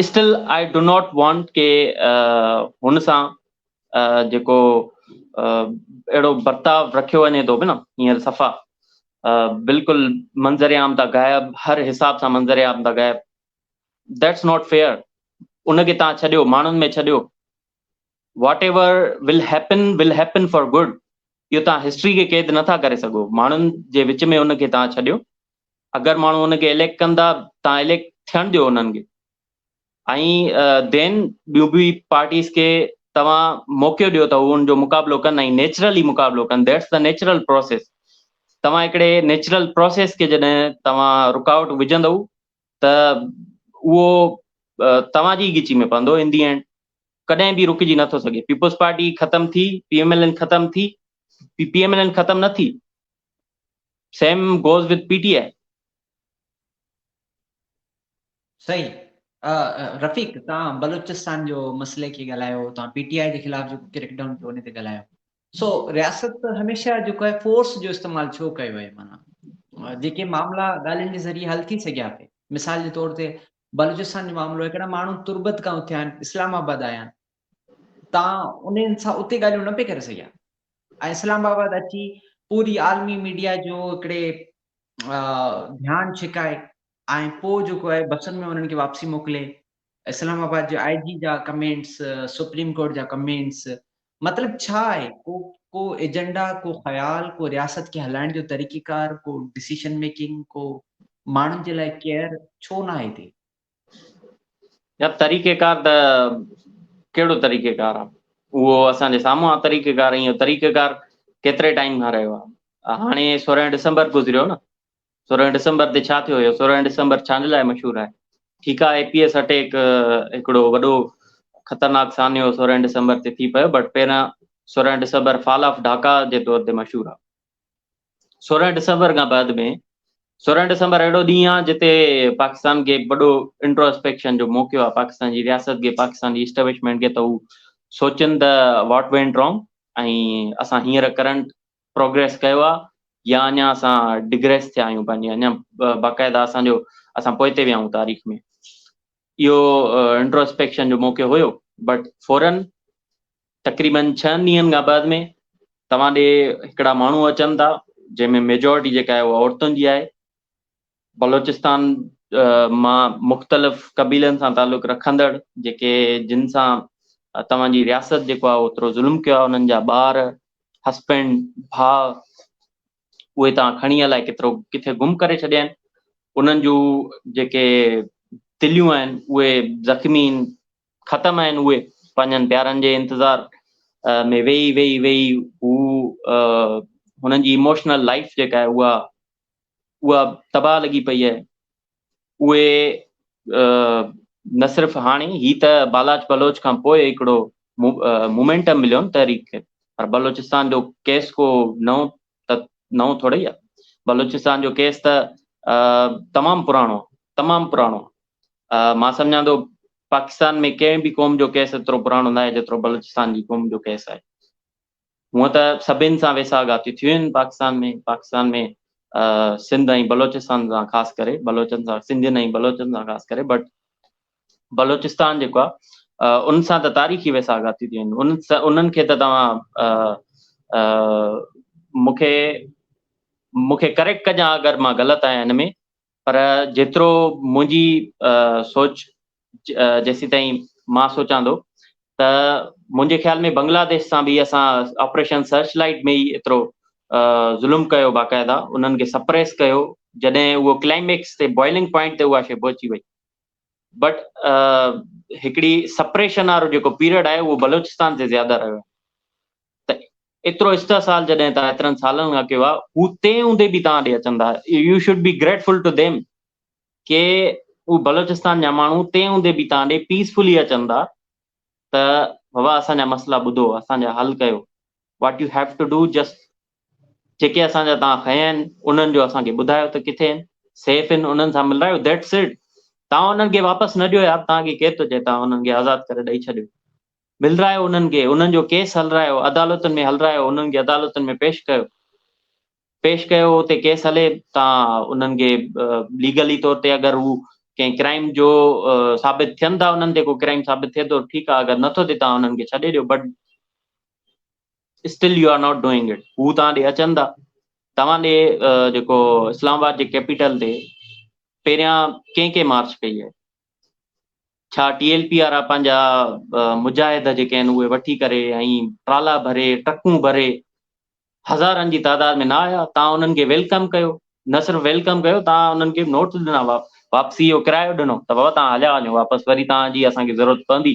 Still I do not want ڪي هن سان جيڪو اهڙو برتاء رکيو وڃي ٿو نه هينئر صفا بلڪل منظر عام تان غائب هر حساب سان منظر عام تان غائب ديٽس ناٽ فيئر ان کي تان ڇڏيو ماڻهن ۾ ڇڏيو whatever will happen will happen for good اهو تان هسٽري کي قيد نٿا ڪري سگهو ماڻهن جي وچ ۾ ان کي تان ڇڏيو اگر ماڻهو ان کي اليڪٽ ڪندا تان اليڪٽ ٿيڻ ڏيو انهن کي ۽ دين ٻيون به پارٽيز کي توهان موقعو ڏيو ته ان جو مقابلو ڪن ۽ نيچرلي مقابلو ڪن ديٽس دا نيچرل پروسيس توهان هڪڙي نيچرل پروسيس کي جڏهن توهان رڪاوٽ وجهندو ته اهو توهان جي ڳچي ۾ پوندو ان دي اينڊ ڪڏهن به رڪجي نٿو سگهي پيپلز پارٽي ختم ٿي پي ايم ايل اين ختم ٿي P P M L N ختم نه ٿي same goes with P T I. سائين رفيق توهان بلوچستان جو مسئلي کي ڳالهايو توهان پي ٽي آء جي خلاف جيڪو ڪريڪ ڊائون ٿيو ان تي ڳالهايو سو رياست هميشه جيڪو آهي فورس جو استعمال ڇو ڪيو آهي معنيٰ جيڪي معاملا ڳالهين جي ذريعي حل ٿي سگهيا پي مثال جي طور تي بلوچستان جو معاملو هڪڙا ماڻهو تربت کان اٿيا آهن اسلام آباد آيا آهن تان انهن سان اتي ڳالهيون نه پئي ڪري سگهيا ۽ اسلام آباد اچي پوري عالمي ميڊيا جو هڪڙي ڌيان ڇڪائي ۽ پوء جيڪو آهي بسن ۾ انهن کي واپسي موڪلي اسلام آباد جي آء جي جا ڪمينٽس سپريم ڪورٽ جا ڪمينٽس مطلب ڇا آهي ڪو ڪو ايجنڊا ڪو خيال ڪو رياست کي هلائڻ جو طريقيڪار ڪو ڊسيشن ميڪنگ ڪو ماڻهن جي لاء ڪيئر ڇو نه آهي هتي يا طريقيڪار ته ڪهڙو طريقيڪار آ اهو اسان جي سامهون آ طريقيڪار ۽ اهو طريقيڪار ڪيتري ٽائيم کان رهيو آ هاڻي سورهن ڊسمبر گذريو نه سورهن ڊسمبر تي ڇا ٿيو هيو سورهن ڊسمبر ڇانجي لاء مشهور آهي ٺيڪ آ اي پي ايس اٽيڪ هڪڙو وڏو خطرناڪ سانحو سورهن ڊسمبر تي ٿي پيو بٽ پهريان سورهن ڊسمبر فال آف ڍاڪا جي طور تي مشهور آ. سورهن ڊسمبر کان بعد ۾ سورهن ڊسمبر اهڙو ڏينهن آهي جتي پاڪستان کي وڏو انٽروسپيڪشن جو موقعو آهي پاڪستان جي رياست کي پاڪستان جي اسٽبلشمينٽ کي ته هو سوچن ته واٽ وينٽ رانگ ۽ اسان هينئر ڪرنٽ پروگريس ڪيو آهي يا اڃا اسان ڊگريس ٿيا آهيون پنهنجي اڃا باقاعده اسان جو اسان پوئتي ويا آهيون تاريخ ۾ اهو انٽروسپيڪشن جو موقعو هيو بٽ فورن تقريبن ڇهن ڏينهن کان بعد ۾ توهان ڏي هڪڙا ماڻهو اچن ٿا جنهن ۾ ميجارٽي جيڪا آهي اها عورتن جي آهي بلوچستان مان مختلف قبيلن سان تعلق رکندڙ جيڪي جن سان توهان جي رياست جيڪو آهي اوترو ظلم ڪيو آهي انهن جا ٻار هسبنڊ ڀاء اهي توهان کڻي الائي ڪيترو ڪٿي گم ڪري ڇڏيا آهن انهن جون جيڪي دليون آهن اهي زخمي ختم آهن اهي پنهنجن پيارن جي انتظار ۾ ويهي ويهي ويهي هو هنن جي اموشنل لائيف جيڪا آهي اها اها تباهه لڳي پئي آهي اهي نه صرف هاڻي هي ته بالاچ بلوچ کان پوء هڪڙو مومينٽم مليو تحريڪ کي پر بلوچستان جو ڪيس ڪو نئون ته نئون ٿوڙي ئي آ. بلوچستان جو ڪيس ته تمام پراڻو آ تمام پراڻو آ مان سمجهان ٿو پاڪستان ۾ ڪنهن به قوم جو ڪيس ايترو پراڻو ناهي جيترو بلوچستان جي قوم جو ڪيس آهي هونء ته سڀن سان ويساهه گهاتيون ٿيون آهن پاڪستان ۾ پاڪستان ۾ سنڌ ۽ بلوچستان سان خاص ڪري بلوچن سان سنڌين ۽ بلوچن سان خاص ڪري بٽ بلوچستان جيڪو آ ان سان ته تاريخي ويساهه گهاتي ٿي وڃن انهن کي ته توهان مون کي مون کي ڪريڪٽ ڪجان اگر مان غلط آهيان هن ۾ پر جيترو منهنجي سوچ جيسيتائين مان سوچان ٿو ته منهنجي خيال ۾ بنگلاديش سان به اسان آپريشن سرچ لائٽ ۾ ئي ايترو ظلم ڪيو باقاعده انهن کي سپريس ڪيو جڏهن اهو ڪلائميڪس تي بوائلنگ پوائنٽ تي اها شي پهچي وئي بٽ هڪڙي سپريشن وارو جيڪو پيريڊ آهي اهو بلوچستان تي زياده رهيو آهي ته ايترو استحصال جڏهن تان ايترن سالن کان ڪيو آهي هو تنهن هوندي به تان ڏي اچن ٿا you should be grateful to them ڪي هو بلوچستان جا ماڻهو تنهن هوندي به تان ڏي پيسفلي اچن ٿا ته بابا اسان جا مسئلا ٻڌو اسان جا حل ڪيو what you have to do just جيڪي اسان جا توهان کنيا آهن انهن جو اسان کي ٻڌايو ته ڪٿي آهن سيف آهن انهن سان ملرايو ذيٽس اٽ توهان انهن کي واپس نه ڏيو يار توهان کي ڪير ٿو چئي توهان انهن کي آزاد ڪري ڏئي ڇڏيو ملرايو انهن کي انهن جو ڪيس هلرايو عدالتن ۾ هلرايو انهن کي عدالتن ۾ پيش ڪيو پيش ڪيو اتي ڪيس هلي توهان انهن کي ليگلي طور تي اگر هو ڪنهن ڪرائم جو ثابت ٿين ٿا انهن تي ڪو ڪرائم ثابت ٿئي ٿو ٺيڪ آهي اگر نٿو ٿئي توهان انهن کي ڇڏي ڏيو but Still you are not doing it هو توهان ڏي اچن ٿا توهان ڏي جيڪو اسلام آباد جي ڪيپيٽل تي پهريان ڪنهن ڪنهن مارچ ڪئي آهي ڇا ٽي ايل پي وارا پنهنجا مجاهد جيڪي آهن اهي وٺي ڪري ۽ ٽرالا ڀري ٽرڪون ڀري هزارن جي تعداد ۾ نه آيا توهان انهن کي ويلڪم ڪيو نه صرف ويلڪم ڪيو توهان انهن کي نوٽس ڏنا واپسي جو ڪرايو ڏنو ته بابا توهان هليا وڃو واپس وري توهان جي اسان کي ضرورت پوندي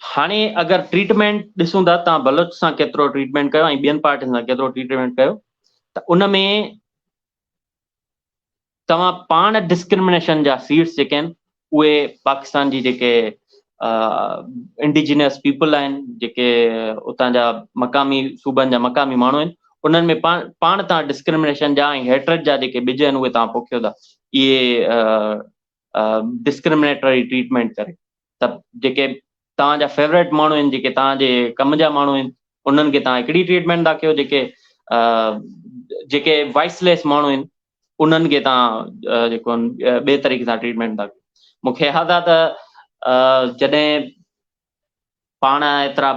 هاڻي اگر ٽريٽمينٽ ڏسون ٿا تان بلوچ سان ڪيترو ٽريٽمينٽ ڪيو ۽ ٻين پارٽين سان ڪيترو ٽريٽمينٽ ڪيو ته ان ۾ توهان پاڻ ڊسڪرمنيشن جا سيٽس جيڪي آهن اهي پاڪستان جي جيڪي انڊيجنس پيپل آهن جيڪي اتان جا مقامي صوبن جا مقامي ماڻهو آهن انهن ۾ پاڻ پاڻ تان ڊسڪرمنيشن جا ۽ هيٽرڊ جا جيڪي ٻج آهن اهي تان پوکيو ٿا اهي ڊسڪرمنيٽري ٽريٽمينٽ ڪري ته جيڪي توهان جا فيوريٽ ماڻهو آهن جيڪي توهان جي ڪم جا ماڻهو آهن انهن کي توهان هڪڙي ٽريٽمينٽ ٿا ڪيو جيڪي جيڪي وائس ليس ماڻهو آهن انهن کي توهان جيڪو ٻئي طريقي سان ٽريٽمينٽ ٿا ڪيو مون کي ياد آهي ته جڏهن پاڻ ايترا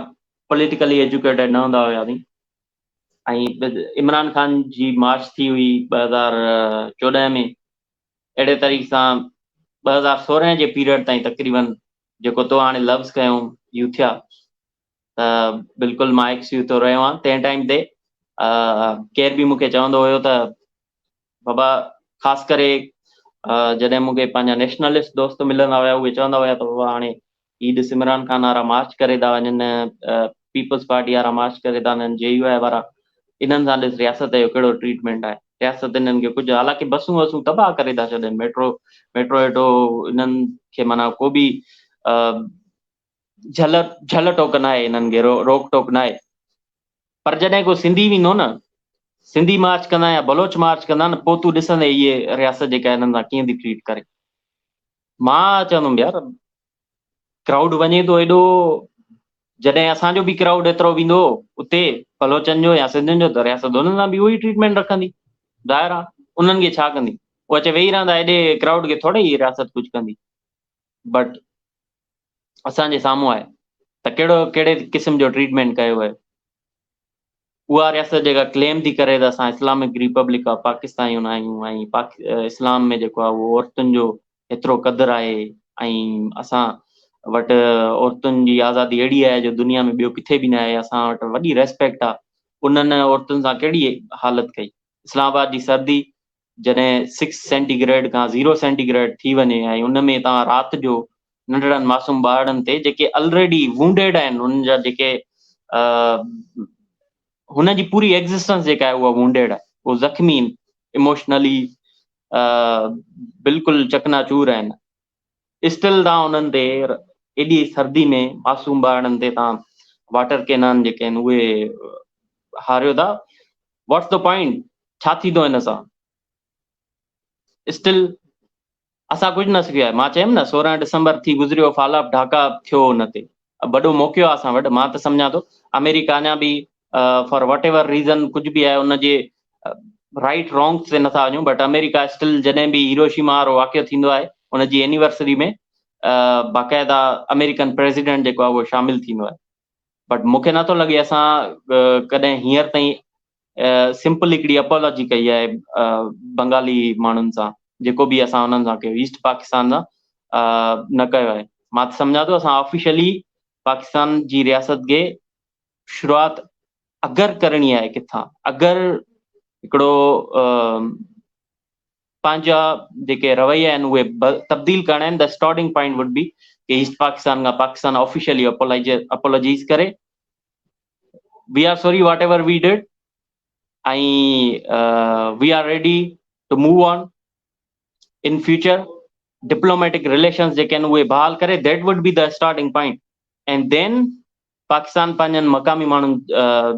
پوليٽيڪلي ايجوڪيٽيڊ نه هوندا هياسين ۽ عمران خان جي مارچ ٿي هئي ٻه هزار چوڏهن ۾ اهڙي طريقي سان ٻه هزار سورهن جي پيريڊ تائين تقريبن جيڪو تو هاڻي لفظ کنيو يوٿيا ته بلڪل مان ايڪس يوٿو رهيو آهيان تنهن ٽائيم تي ڪير به مون کي چوندو هيو ته بابا خاص ڪري جڏهن مون کي پنهنجا نيشنلسٽ دوست ملندا هيا اهي چوندا هيا ته بابا هاڻي هي ڏس عمران خان وارا مارچ ڪري ٿا وڃن پيپلز پارٽي وارا مارچ ڪري ٿا وڃن جي يو آء وارا انهن سان ڏس رياست جو ڪهڙو ٽريٽمينٽ آهي رياست انهن کي ڪجهه حالانڪه بسون وسون تباهه ڪري ٿا ڇڏين ميٽرو ميٽرو ويٽرو انهن کي معنيٰ ڪو به جھل جھل ٽوڪ ناهي انهن کي روڪ ٽوڪ ناهي پر جڏهن ڪو سنڌي ويندو نه سنڌي مارچ ڪندا يا بلوچ مارچ ڪندا نه پوء تون ڏسندي هي رياست جيڪا هنن سان ڪيئن ٿي ٽريٽ ڪري مان چوندم يار ڪرائوڊ وڃي ٿو ايڏو جڏهن اسان جو به ڪرائوڊ ايترو ويندو اتي بلوچن جو يا سنڌين جو ته رياست انهن سان به اهو ئي ٽريٽمينٽ رکندي ظاهر آ انهن کي ڇا ڪندي هو اچي ويهي رهندا ايڏي ڪرائوڊ کي ٿوري ئي رياست ڪجهه ڪندي بٽ اسان جي سامهون آهي ته ڪهڙو ڪهڙي قسم جو ٽريٽمينٽ ڪيو ويو اها رياست جيڪا ڪليم ٿي ڪري ته اسان اسلامڪ ريپبلڪ آف پاڪستايون آهيون ۽ اسلام ۾ جيڪو آهي اهو عورتن جو ايترو قدر آهي ۽ اسان وٽ عورتن جي آزادي اهڙي آهي جو دنيا ۾ ٻيو ڪٿي به نه آهي اسان وٽ وڏي ريسپيڪٽ آهي انهن عورتن سان ڪهڙي حالت ڪئي اسلام آباد جي سردي جڏهن سڪس سينٽي گريڊ کان زيرو سينٽي گريڊ ٿي وڃي ۽ ان ۾ توهان رات جو ننڍڙن معصوم ٻارڙن تي جيڪي الريڊي وونڊيڊ آهن انهن جا جيڪي هن جي پوري ايگزسٽنس جيڪا آهي اها وونڊيڊ آهي اهو زخمي ايموشنلي بلڪل چڪنا چور آهن اسٽل تان انهن تي ايڏي سردي ۾ معصوم ٻارڙن تي تان واٽر ڪينان جيڪي آهن اهي هاريو ٿا واٽس دا پوائنٽ ڇا ٿيندو هن سان اسٽل اسان ڪجهه نه سکيو آهي مان چيم نه سورهن ڊسمبر ٿي گذريو فال آف ڍاڪا ٿيو ان تي وڏو موقعو آهي اسان وٽ مان ته سمجهان ٿو آمريڪا اڃا به فار واٽ ايور ريزن ڪجهه به آهي ان جي رائيٽ رانگس تي نٿا وڃون بٽ آمريڪا اسٽل جڏهن به هيروشيما وارو واقعو ٿيندو آهي ان جي اينيورسري ۾ باقاعده آمريڪن پريزيڊنٽ جيڪو آهي اهو شامل ٿيندو آهي بٽ مون کي نٿو لڳي اسان ڪڏهن هينئر تائين سمپل هڪڙي اپالاجي ڪئي آهي بنگالي ماڻهن سان جيڪو به اسان انهن سان ڪيو ايسٽ پاڪستان سان نه ڪيو آهي مان سمجهان ٿو اسان آفيشلي پاڪستان جي رياست کي شروعات اگر ڪرڻي آهي ڪٿان اگر هڪڙو پنهنجا جيڪي رويا آهن اهي تبديل ڪرڻا آهن ته اسٽارٽنگ پوائنٽ وڊ بي ڪي ايسٽ پاڪستان کان پاڪستان آفيشلي اپولوجيز ڪري we are sorry whatever we did ۽ we are ready to move on in future diplomatic relations جيڪي آهن اهي بحال ڪري that would be the starting point and then Pakistan پنهنجن مقامي ماڻهن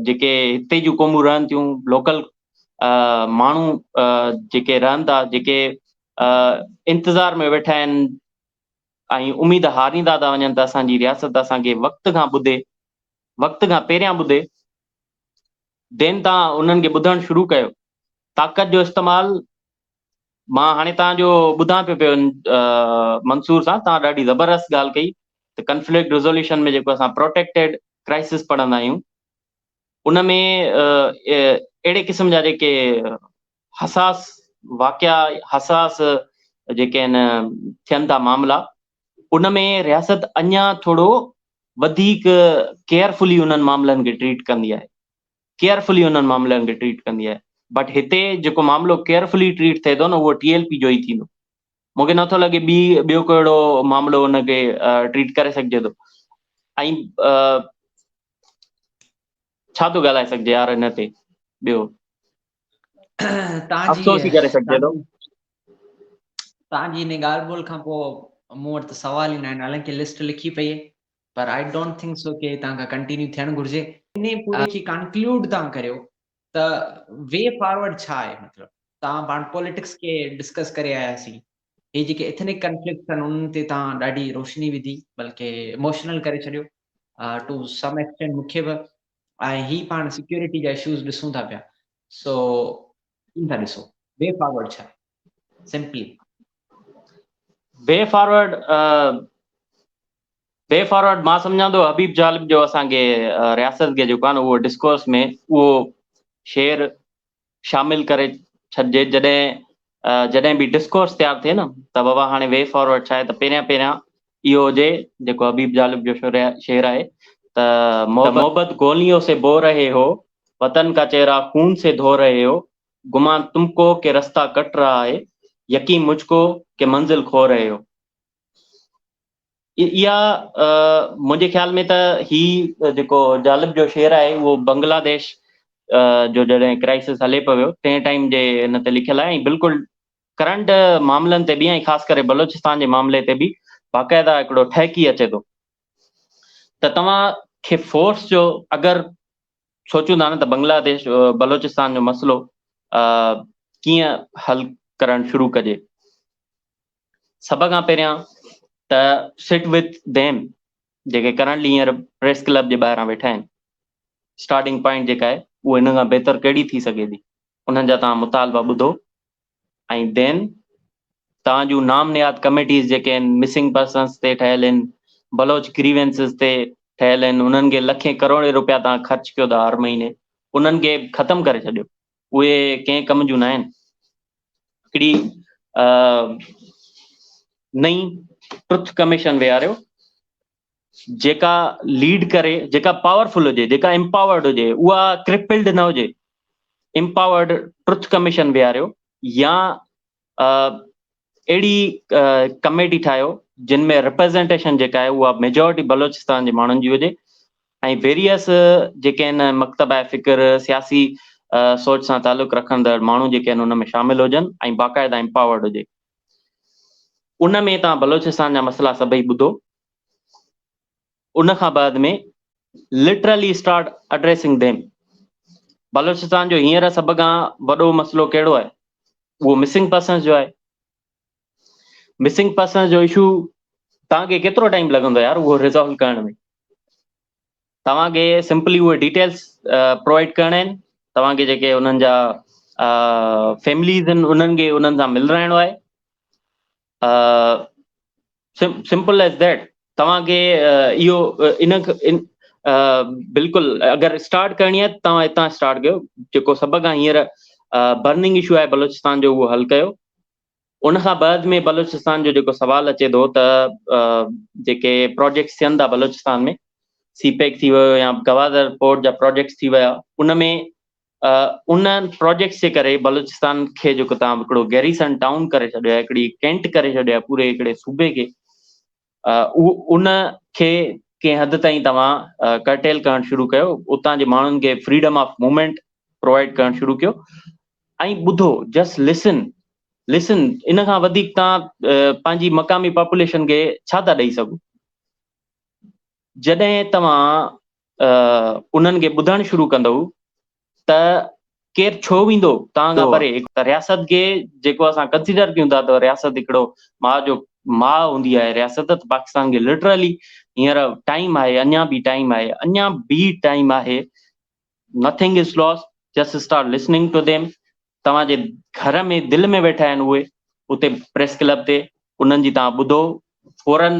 جيڪي هتي جون قومون رهن ٿيون لوڪل ماڻهو جيڪي رهن ٿا جيڪي انتظار ۾ ويٺا آهن ۽ اميد هاريندا ٿا وڃن ته اسان جي رياست اسان کي وقت کان ٻڌي وقت کان پهريان ٻڌي دين تان انهن کي ٻڌڻ شروع ڪيو طاقت جو استعمال مان هاڻي توهان جو ٻڌان پيو پيو منصور صاحب توهان ڏاڍي زبردست ڳالهه ڪئي ته ڪنفلڪٽ ريزوليوشن ۾ جيڪو اسان پروٽيڪٽيڊ ڪرائسس پڙهندا آهيون ان ۾ اهڙي قسم جا جيڪي حساس واقعا حساس جيڪي آهن ٿين ٿا معاملا ان ۾ رياست اڃا ٿورو وڌيڪ ڪيئرفلي انهن معاملن کي ٽريٽ ڪندي آهي ڪيئرفلي انهن معاملن کي ٽريٽ ڪندي آهي بٽ هتي جيڪو معاملو ڪيئرفلي ٽريٽ ٿئي ٿو نه اهو ٽي ايل پي جو ئي ٿيندو مون کي نٿو لڳي ٻي ٻيو ڪو اهڙو معاملو ان کي ٽريٽ ڪري سگهجي ٿو ۽ ڇا ٿو ڳالهائي سگهجي يار هن تي ٻيو افسوس ڪري سگهجي ٿو تنهنجي هن ڳالهه ٻولهه کان پوء مون وٽ ته سوال ئي ناهن حالانڪه لسٽ لکي پئي پر آئي ڊونٽ ٿنڪ سو ڪي هتان کان ڪنٽينيو ٿيڻ گهرجي. انهي پوري کي ڪانڪلوڊ تان ڪريو ته وي فاروڊ ڇا آهي مطلب تان پاڻ پوليٽڪس کي ڊسڪس ڪري آيا سين هي جيڪي اٿنڪ ڪنفلڪٽس آهن انهن تي تان ڏاڍي روشني وڌي بلڪه اموشنل ڪري ڇڏيو ٽو سم ايڪسٽينٽ مون کي به ۽ هي پاڻ سيڪيورٽي جا اشوز ڏسون ٿا پيا سو ڪيئن ٿا ڏسو وي فاروڊ ڇا آهي simply we forward we forward مان سمجهان ٿو حبيب جالب جو اسان کي رياست کي جيڪو آهي نه اهو ڊسڪورس ۾ اهو شعر شامل ڪري ڇڏجي جڏهن جڏهن به ڊسڪورس تيار ٿئي نه ته بابا هاڻي وي فارورڊ ڇا آهي ته پهريان پهريان اهو هجي جيڪو حبيب جالب جو شعر آهي ته محبت گوليون سي بو رهي هو وطن ڪا چهرا خون سي ڌو رهي هو گمان تم ڪو ڪي رستا ڪٽ رها هي يقين مجھ ڪو ڪي منزل کو رهي هو. اها منهنجي خيال ۾ ته هي جيڪو جالب جو شعر آهي اهو بنگلاديش جو جڏهن ڪرائسس هلي پيو ويو تنهن ٽائيم جي هن تي لکيل آهي ۽ بلڪل ڪرنٽ معاملن تي به ۽ خاص ڪري بلوچستان جي معاملي تي به باقاعده هڪڙو ٺهڪي اچي ٿو. ته توهان کي فورس جو اگر سوچون ٿا نه ته بنگلاديش بلوچستان جو مسئلو ڪيئن حل ڪرڻ شروع ڪجي سڀ کان پهريان ته سٽ وٿ ديم جيڪي ڪرنٽلي هينئر پريس ڪلب جي ٻاهران ويٺا آهن اسٽارٽنگ پوائنٽ جيڪا آهي اهو هن کان بهتر ڪهڙي ٿي سگهي ٿي انهن جا تان مطالبا ٻڌو ۽ دين تان جون نام نهاد ڪميٽيز جيڪي ان مسنگ پرسنز تي ٺهيل ان بلوچ گريوينسز تي ٺهيل ان انهن کي لکين ڪروڙين روپيا تان خرچ ڪيو ٿا هر مهيني انهن کي ختم ڪري ڇڏيو اهي ڪنهن ڪم جون ناهن هڪڙي نئين ٽرٿ ڪميشن ويهاريو جيڪا ليڊ ڪري جيڪا پاورفل هجي جيڪا امپاورڊ هجي اها ڪرپلڊ نه هجي امپاورڊ ٽرٿ ڪميشن بيهاريو يا اهڙي ڪميٽي ٺاهيو جن ۾ ريپريزنٽيشن جيڪا آهي اها ميجورٽي بلوچستان جي ماڻهن جي هجي ۽ ويريس جيڪي آهن مڪتبه فڪر سياسي سوچ سان تعلق رکندڙ ماڻهو جيڪي آهن ان ۾ شامل هجن ۽ باقاعده امپاورڊ هجي ان ۾ توهان بلوچستان جا مسئلا سڀئي ٻڌو ان کان بعد ۾ literally start addressing them Balochistan جو هينئر سڀ کان وڏو مسئلو ڪهڙو آهي اهو مسنگ پرسنس جو آهي مسنگ پرسنس جو اشو توهان کي ڪيترو ٽائيم لڳندو يار اهو ريزالو ڪرڻ ۾ توهان کي سمپلي اهي ڊيٽيلس پرووائيڊ ڪرڻا آهن توهان کي جيڪي انهن جا فيمليز آهن انهن کي انهن سان ملرائڻو آهي سمپل ايز ديٽ توهان کي اهو ان بلڪل اگر اسٽارٽ ڪرڻي آهي توهان هتان اسٽارٽ ڪيو جيڪو سڀ کان هينئر برننگ اشو آهي بلوچستان جو اهو حل ڪيو ان کان بعد ۾ بلوچستان جو جيڪو سوال اچي ٿو ته جيڪي پروجيڪٽس ٿين ٿا بلوچستان ۾ سي پيڪ ٿي ويو يا گوادر پورٽ جا پروجيڪٽس ٿي ويا ان ۾ ان پروجيڪٽس جي ڪري بلوچستان کي جيڪو تان هڪڙو گيريسن ٽائون ڪري ڇڏيو آهي هڪڙي ڪينٽ ڪري ڇڏيو آهي پوري هڪڙي صوبي کي ان کي ڪنهن حد تائين توهان ڪرٽيل ڪرڻ شروع ڪيو اتان جي ماڻهن کي فريڊم آف موومينٽ پرووائيڊ ڪرڻ شروع ڪيو ۽ ٻڌو جسٽ لسن لسن ان کان وڌيڪ تان پنهنجي مقامي پاپوليشن کي ڇا ٿا ڏئي سگهو جڏهن توهان انهن کي ٻڌڻ شروع ڪندو ته ڪير ڇو ويندو توهان کان پري ته رياست کي جيڪو اسان ڪنسيڊر ڪيون ٿا ته رياست هڪڙو ماء جو ماء هوندي آهي رياست ته پاڪستان کي لٽرلي هينئر ٽائيم آهي اڃا به ٽائيم آهي اڃا به ٽائيم آهي nothing is lose just start listening to them توهان جي گهر ۾ دل ۾ ويٺا آهن اهي اتي پريس ڪلب تي انهن جي تان ٻڌو فورن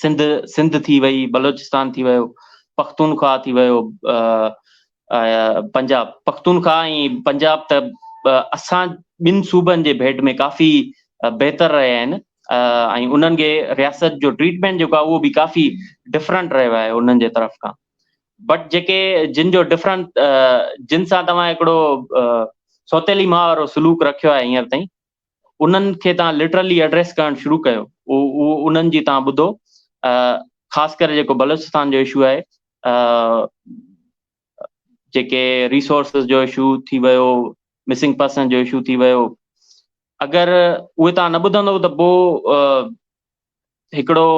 سنڌ سنڌ ٿي وئي، بلوچستان ٿي ويو، پختونخواهه ٿي ويو، پنجاب پختونخواهه ۽ پنجاب ته اسان ٻن صوبن جي ڀيٽ ۾ ڪافي بهتر رهيا آهن ۽ انهن کي رياست جو ٽريٽمينٽ جيڪو آهي اهو به ڪافي ڊفرنٽ رهيو آهي انهن جي طرف کان بٽ جيڪي جن جو ڊفرنٽ جن سان توهان هڪڙو سوتيلي ماء وارو سلوڪ رکيو آهي هينئر تائين انهن کي توهان لٽرلي ايڊريس ڪرڻ شروع ڪيو اهو انهن جي توهان ٻڌو خاص ڪري جيڪو بلوچستان جو اشو آهي جيڪي ريسورسز جو اشو ٿي ويو مسنگ پرسن جو اشو ٿي ويو اگر اهي تان نه ٻڌندو ته پوء هڪڙو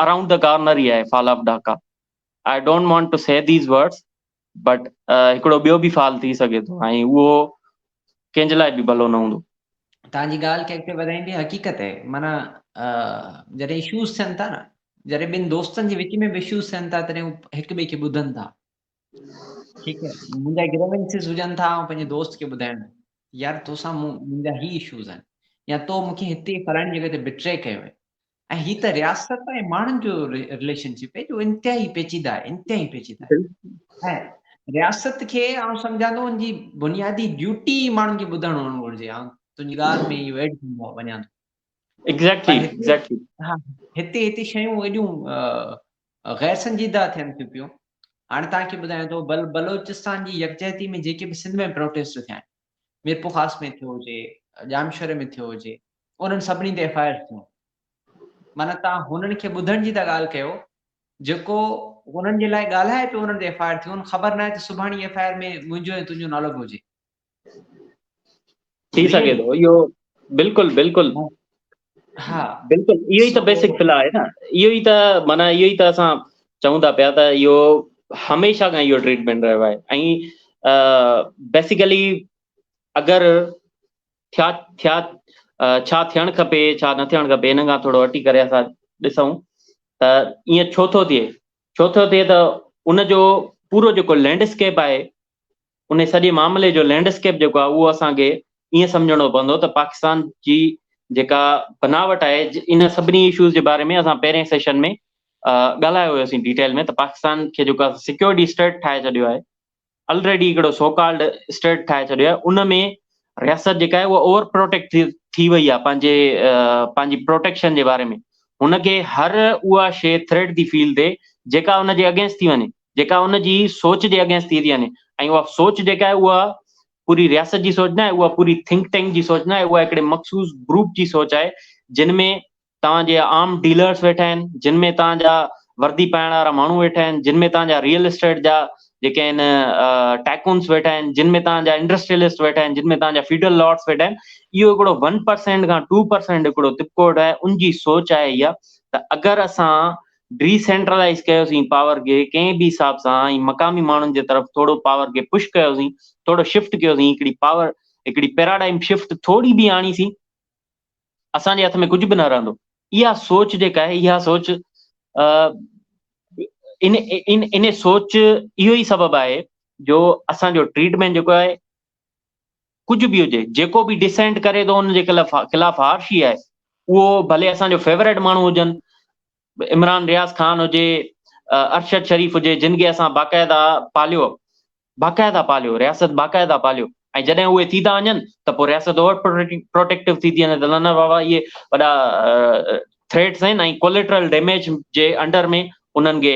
اراؤنڊ دا ڪارنر ئي آهي fall of Dhaka I don't want to see these words but هڪڙو ٻيو به فال ٿي سگهي ٿو ۽ اهو ڪنهن جي لاء به ڀلو نه هوندو. توهان جي ڳالهه کي اڳتي وڌائيندي حقيقت اهي معنيٰ جڏهن اشوز ٿين ٿا نه جڏهن ٻن دوستن جي وچ ۾ به اشوز ٿين ٿا تڏهن هو هڪ ٻئي کي ٻڌن ٿا ٺيڪ آهي منهنجا گريونسز هجن ٿا آئون پنهنجي دوست کي ٻڌائڻ يار توسان منهنجا هي اشوز آهن يا تو مونکي هتي فلاڻي جڳهه تي بٽري ڪيو آهي ۽ هي ته رياست ۽ ماڻهن جو رليشن شپ آهي جو انتهائي پيچيده آهي انتهائي پيچيده آهي ۽ رياست کي آئون سمجهان ٿو ان جي بنيادي ڊيوٽي ماڻهن کي ٻڌڻ هئڻ گهرجي آئون تنهنجي ڳالهه ۾ اهو ايڊ ڪندو وڃان ٿو ايگزيڪٽلي ايگزيڪٽلي ها هتي هتي شيون ايڏيون غير سنجيده ٿين ٿيون پيون هاڻي تان کي ٻڌايان ٿو بل بلوچستان جي يڪجهتي ۾ جيڪي به سنڌ ۾ پروٽيسٽ ٿيا آهن ميرپورخاص ۾ ٿيو هجي، ڄامشوري ۾ ٿيو هجي، انهن سڀني تي ايف آء آرز ٿيون. معنيٰ توهان هنن کي ٻڌڻ جي ٿا ڳالهه ڪيو، جيڪو انهن جي لاء ڳالهائي پيو انهن تي ايف آء آر ٿيون، خبر ناهي ته سڀاڻي ايف آء آر ۾ منهنجو ۽ تنهنجو نالو به هجي. ٿي سگهي ٿو اهو بلڪل بلڪل ها بلڪل اهو ئي ته بيسڪ فلا آهي نه اهو ئي ته معنيٰ اهو ئي ته اسان چون ٿا پيا ته اهو هميشه کان اهو ٽريٽمينٽ رهيو آهي ۽ بيسيڪلي اگر ٿيا ٿيا ڇا ٿيڻ کپي ڇا نه ٿيڻ کپي ان کان ٿورو هٽي ڪري اسان ڏسون ته ائين ڇو ٿو ٿئي ڇو ٿو ٿئي ته ان جو پورو جيڪو لينڊسڪيپ آهي انهي سڄي معاملي جو لينڊ اسڪيپ جيڪو آهي اهو اسان کي ائين سمجهڻو پوندو ته پاڪستان جي جيڪا بناوٽ آهي ان سڀني اشوز جي باري ۾ اسان پهرين سيشن ۾ ڳالهايو هيوسين ڊيٽيل ۾ ته پاڪستان کي جيڪا سيڪيورٽي اسٽيٽ ٺاهي ڇڏيو آهي الريڊي هڪڙو سو ڪالڊ اسٽيٽ ٺاهي ڇڏيو آهي ان ۾ رياست جيڪا آهي اها اوور پروٽيڪٽ ٿي وئي آهي پنهنجي پنهنجي پروٽيڪشن جي باري ۾ هن کي هر اها شي ٿريٽ ٿي فيل ٿئي جيڪا هن جي اگينسٽ ٿي وڃي جيڪا ان جي سوچ جي اگينسٽ ٿي ٿي وڃي ۽ اها سوچ جيڪا آهي اها پوري رياست جي سوچ ناهي اها پوري ٿنڪ ٽينڪ جي سوچ ناهي اها هڪڙي مخصوص گروپ جي سوچ آهي جن ۾ توهان جي عام ڊيلرس ويٺا آهن جن ۾ توهان جا وردي پائڻ وارا ماڻهو ويٺا آهن جن ۾ توهان جا ريئل اسٽيٽ جا جيڪي آهن ٽائڪونس ويٺا آهن جن ۾ توهان جا انڊسٽريلسٽ ويٺا آهن جن ۾ توهان جا فيڊل لارڊس ويٺا آهن اهو هڪڙو ون پرسينٽ کان ٽو پرسينٽ هڪڙو طبقو ويٺو آهي ان جي سوچ آهي اها ته اگر اسان ڊي سينٽرلائيز ڪيوسين پاور کي ڪنهن به حساب سان ۽ مقامي ماڻهن جي طرف ٿورو پاور کي پش ڪيوسين ٿورو شفٽ ڪيوسين هڪڙي پاور هڪڙي پيراڊائم شفٽ ٿوري به آڻي سين اسان جي هٿ ۾ ڪجهه به نه رهندو اها سوچ جيڪا آهي اها سوچ ان ان ان سوچ اهو ئي سبب آهي جو اسان جو ٽريٽمينٽ جيڪو آهي ڪجهه به هجي جيڪو به ڊسينٽ ڪري ٿو ان جي خلاف هارشي آهي اهو ڀلي اسان جو فيوريٽ ماڻهو هجن عمران رياض خان هجي ارشد شريف هجي جن کي اسان باقاعده پاليو باقاعده پاليو رياست باقاعده پاليو ۽ جڏهن اهي ٿي ٿا وڃن ته پوء رياست اور پروٽيڪٽو ٿي ٿي وڃي ته نه بابا اهي وڏا ٿريٽس آهن ۽ ڪوليٽرل ڊيميج جي انڊر ۾ انهن کي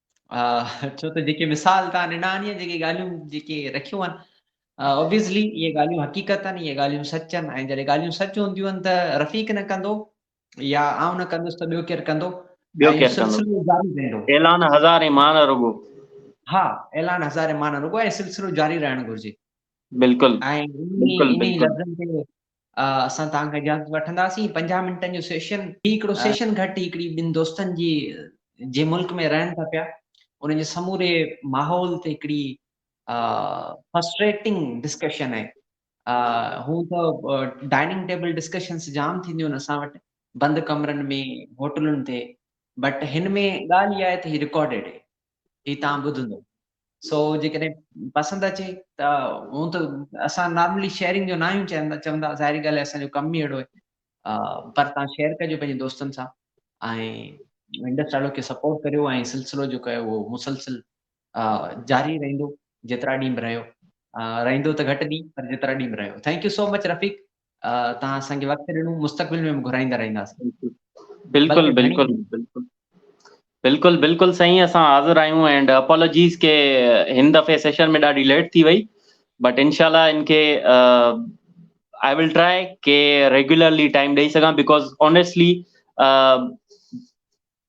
ڇو ته جيڪي مثال تان ڏنا آهن يا جيڪي ڳالهيون جيڪي رکيون آهن اوبيسلي اهي ڳالهيون حقيقت آهن اهي ڳالهيون سچ آهن ۽ جڏهن ڳالهيون سچ هونديون آهن ته رفيق نه ڪندو يا آئون نه ڪندس ته ٻيو ڪير ڪندو ٻيو ڪير ڪندو اعلان هزار ايمان رڳو ها اعلان هزار ايمان رڳو ۽ سلسلو جاري رهڻ گهرجي بلڪل ۽ انهي لفظن تي اسان توهان کان اجازت وٺنداسين پنجاهه منٽن جو سيشن هي هڪڙو ها سيشن گهٽ هڪڙي ٻن دوستن جي جي ملڪ ۾ رهن ٿا پيا ان جي سموري ماحول تي هڪڙي فرسٽريٽنگ ڊسڪشن آهي هون ته ڊائننگ ٽيبل ڊسڪشنس جام ٿينديون آهن اسان وٽ بند ڪمرن ۾ هوٽلن تي بٽ هن ۾ ڳالهه اها آهي ته هي رڪارڊيڊ آهي هي توهان ٻڌندو سو جيڪڏهن پسند اچي ته هون ته اسان نارملي شيئرنگ جو ناهيون چوندا چوندا ظاهري ڳالهه اسان جو ڪم ئي اهڙو آهي پر توهان شيئر ڪجو پنهنجي دوستن سان ۽ انڊس ٽالو کي سپورٽ ڪريو ۽ سلسلو جيڪو آهي اهو مسلسل جاري رهندو جيترا ڏينهن به رهيو رهندو ته گهٽ ڏينهن پر جيترا ڏينهن به رهيو thank you so much Rafiq توهان اسان کي وقت ڏنو مستقبل ۾ به گهرائيندا رهنداسين بلڪل بلڪل بلڪل بلڪل بلڪل سائين اسان حاضر آهيون اينڊ اپالوجيز کي هن دفعي سيشن ۾ ڏاڍي ليٽ ٿي وئي بٽ انشاءالله ان کي آء ول ٽرائي ڪي ريگولرلي ٽائيم ڏئي سگهان بيڪاز اونيسٽلي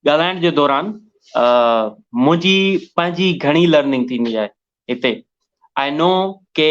ڳالهائڻ جي دوران منهنجي پنهنجي گهڻي لرننگ ٿيندي آهي هتي آء نو ڪي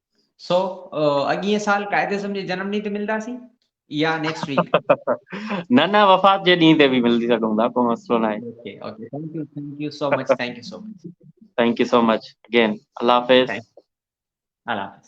سو اڳئين سال قائد اعظم جي جنم ڏينهن تي ملنداسين يا نيڪسٽ ويڪ نه نه وفات جي ڏينهن تي به ملي سگهون ٿا ڪو مسئلو نه آهي okay okay thank you thank you so much thank you so much thank you so much again الله حافظ الله حافظ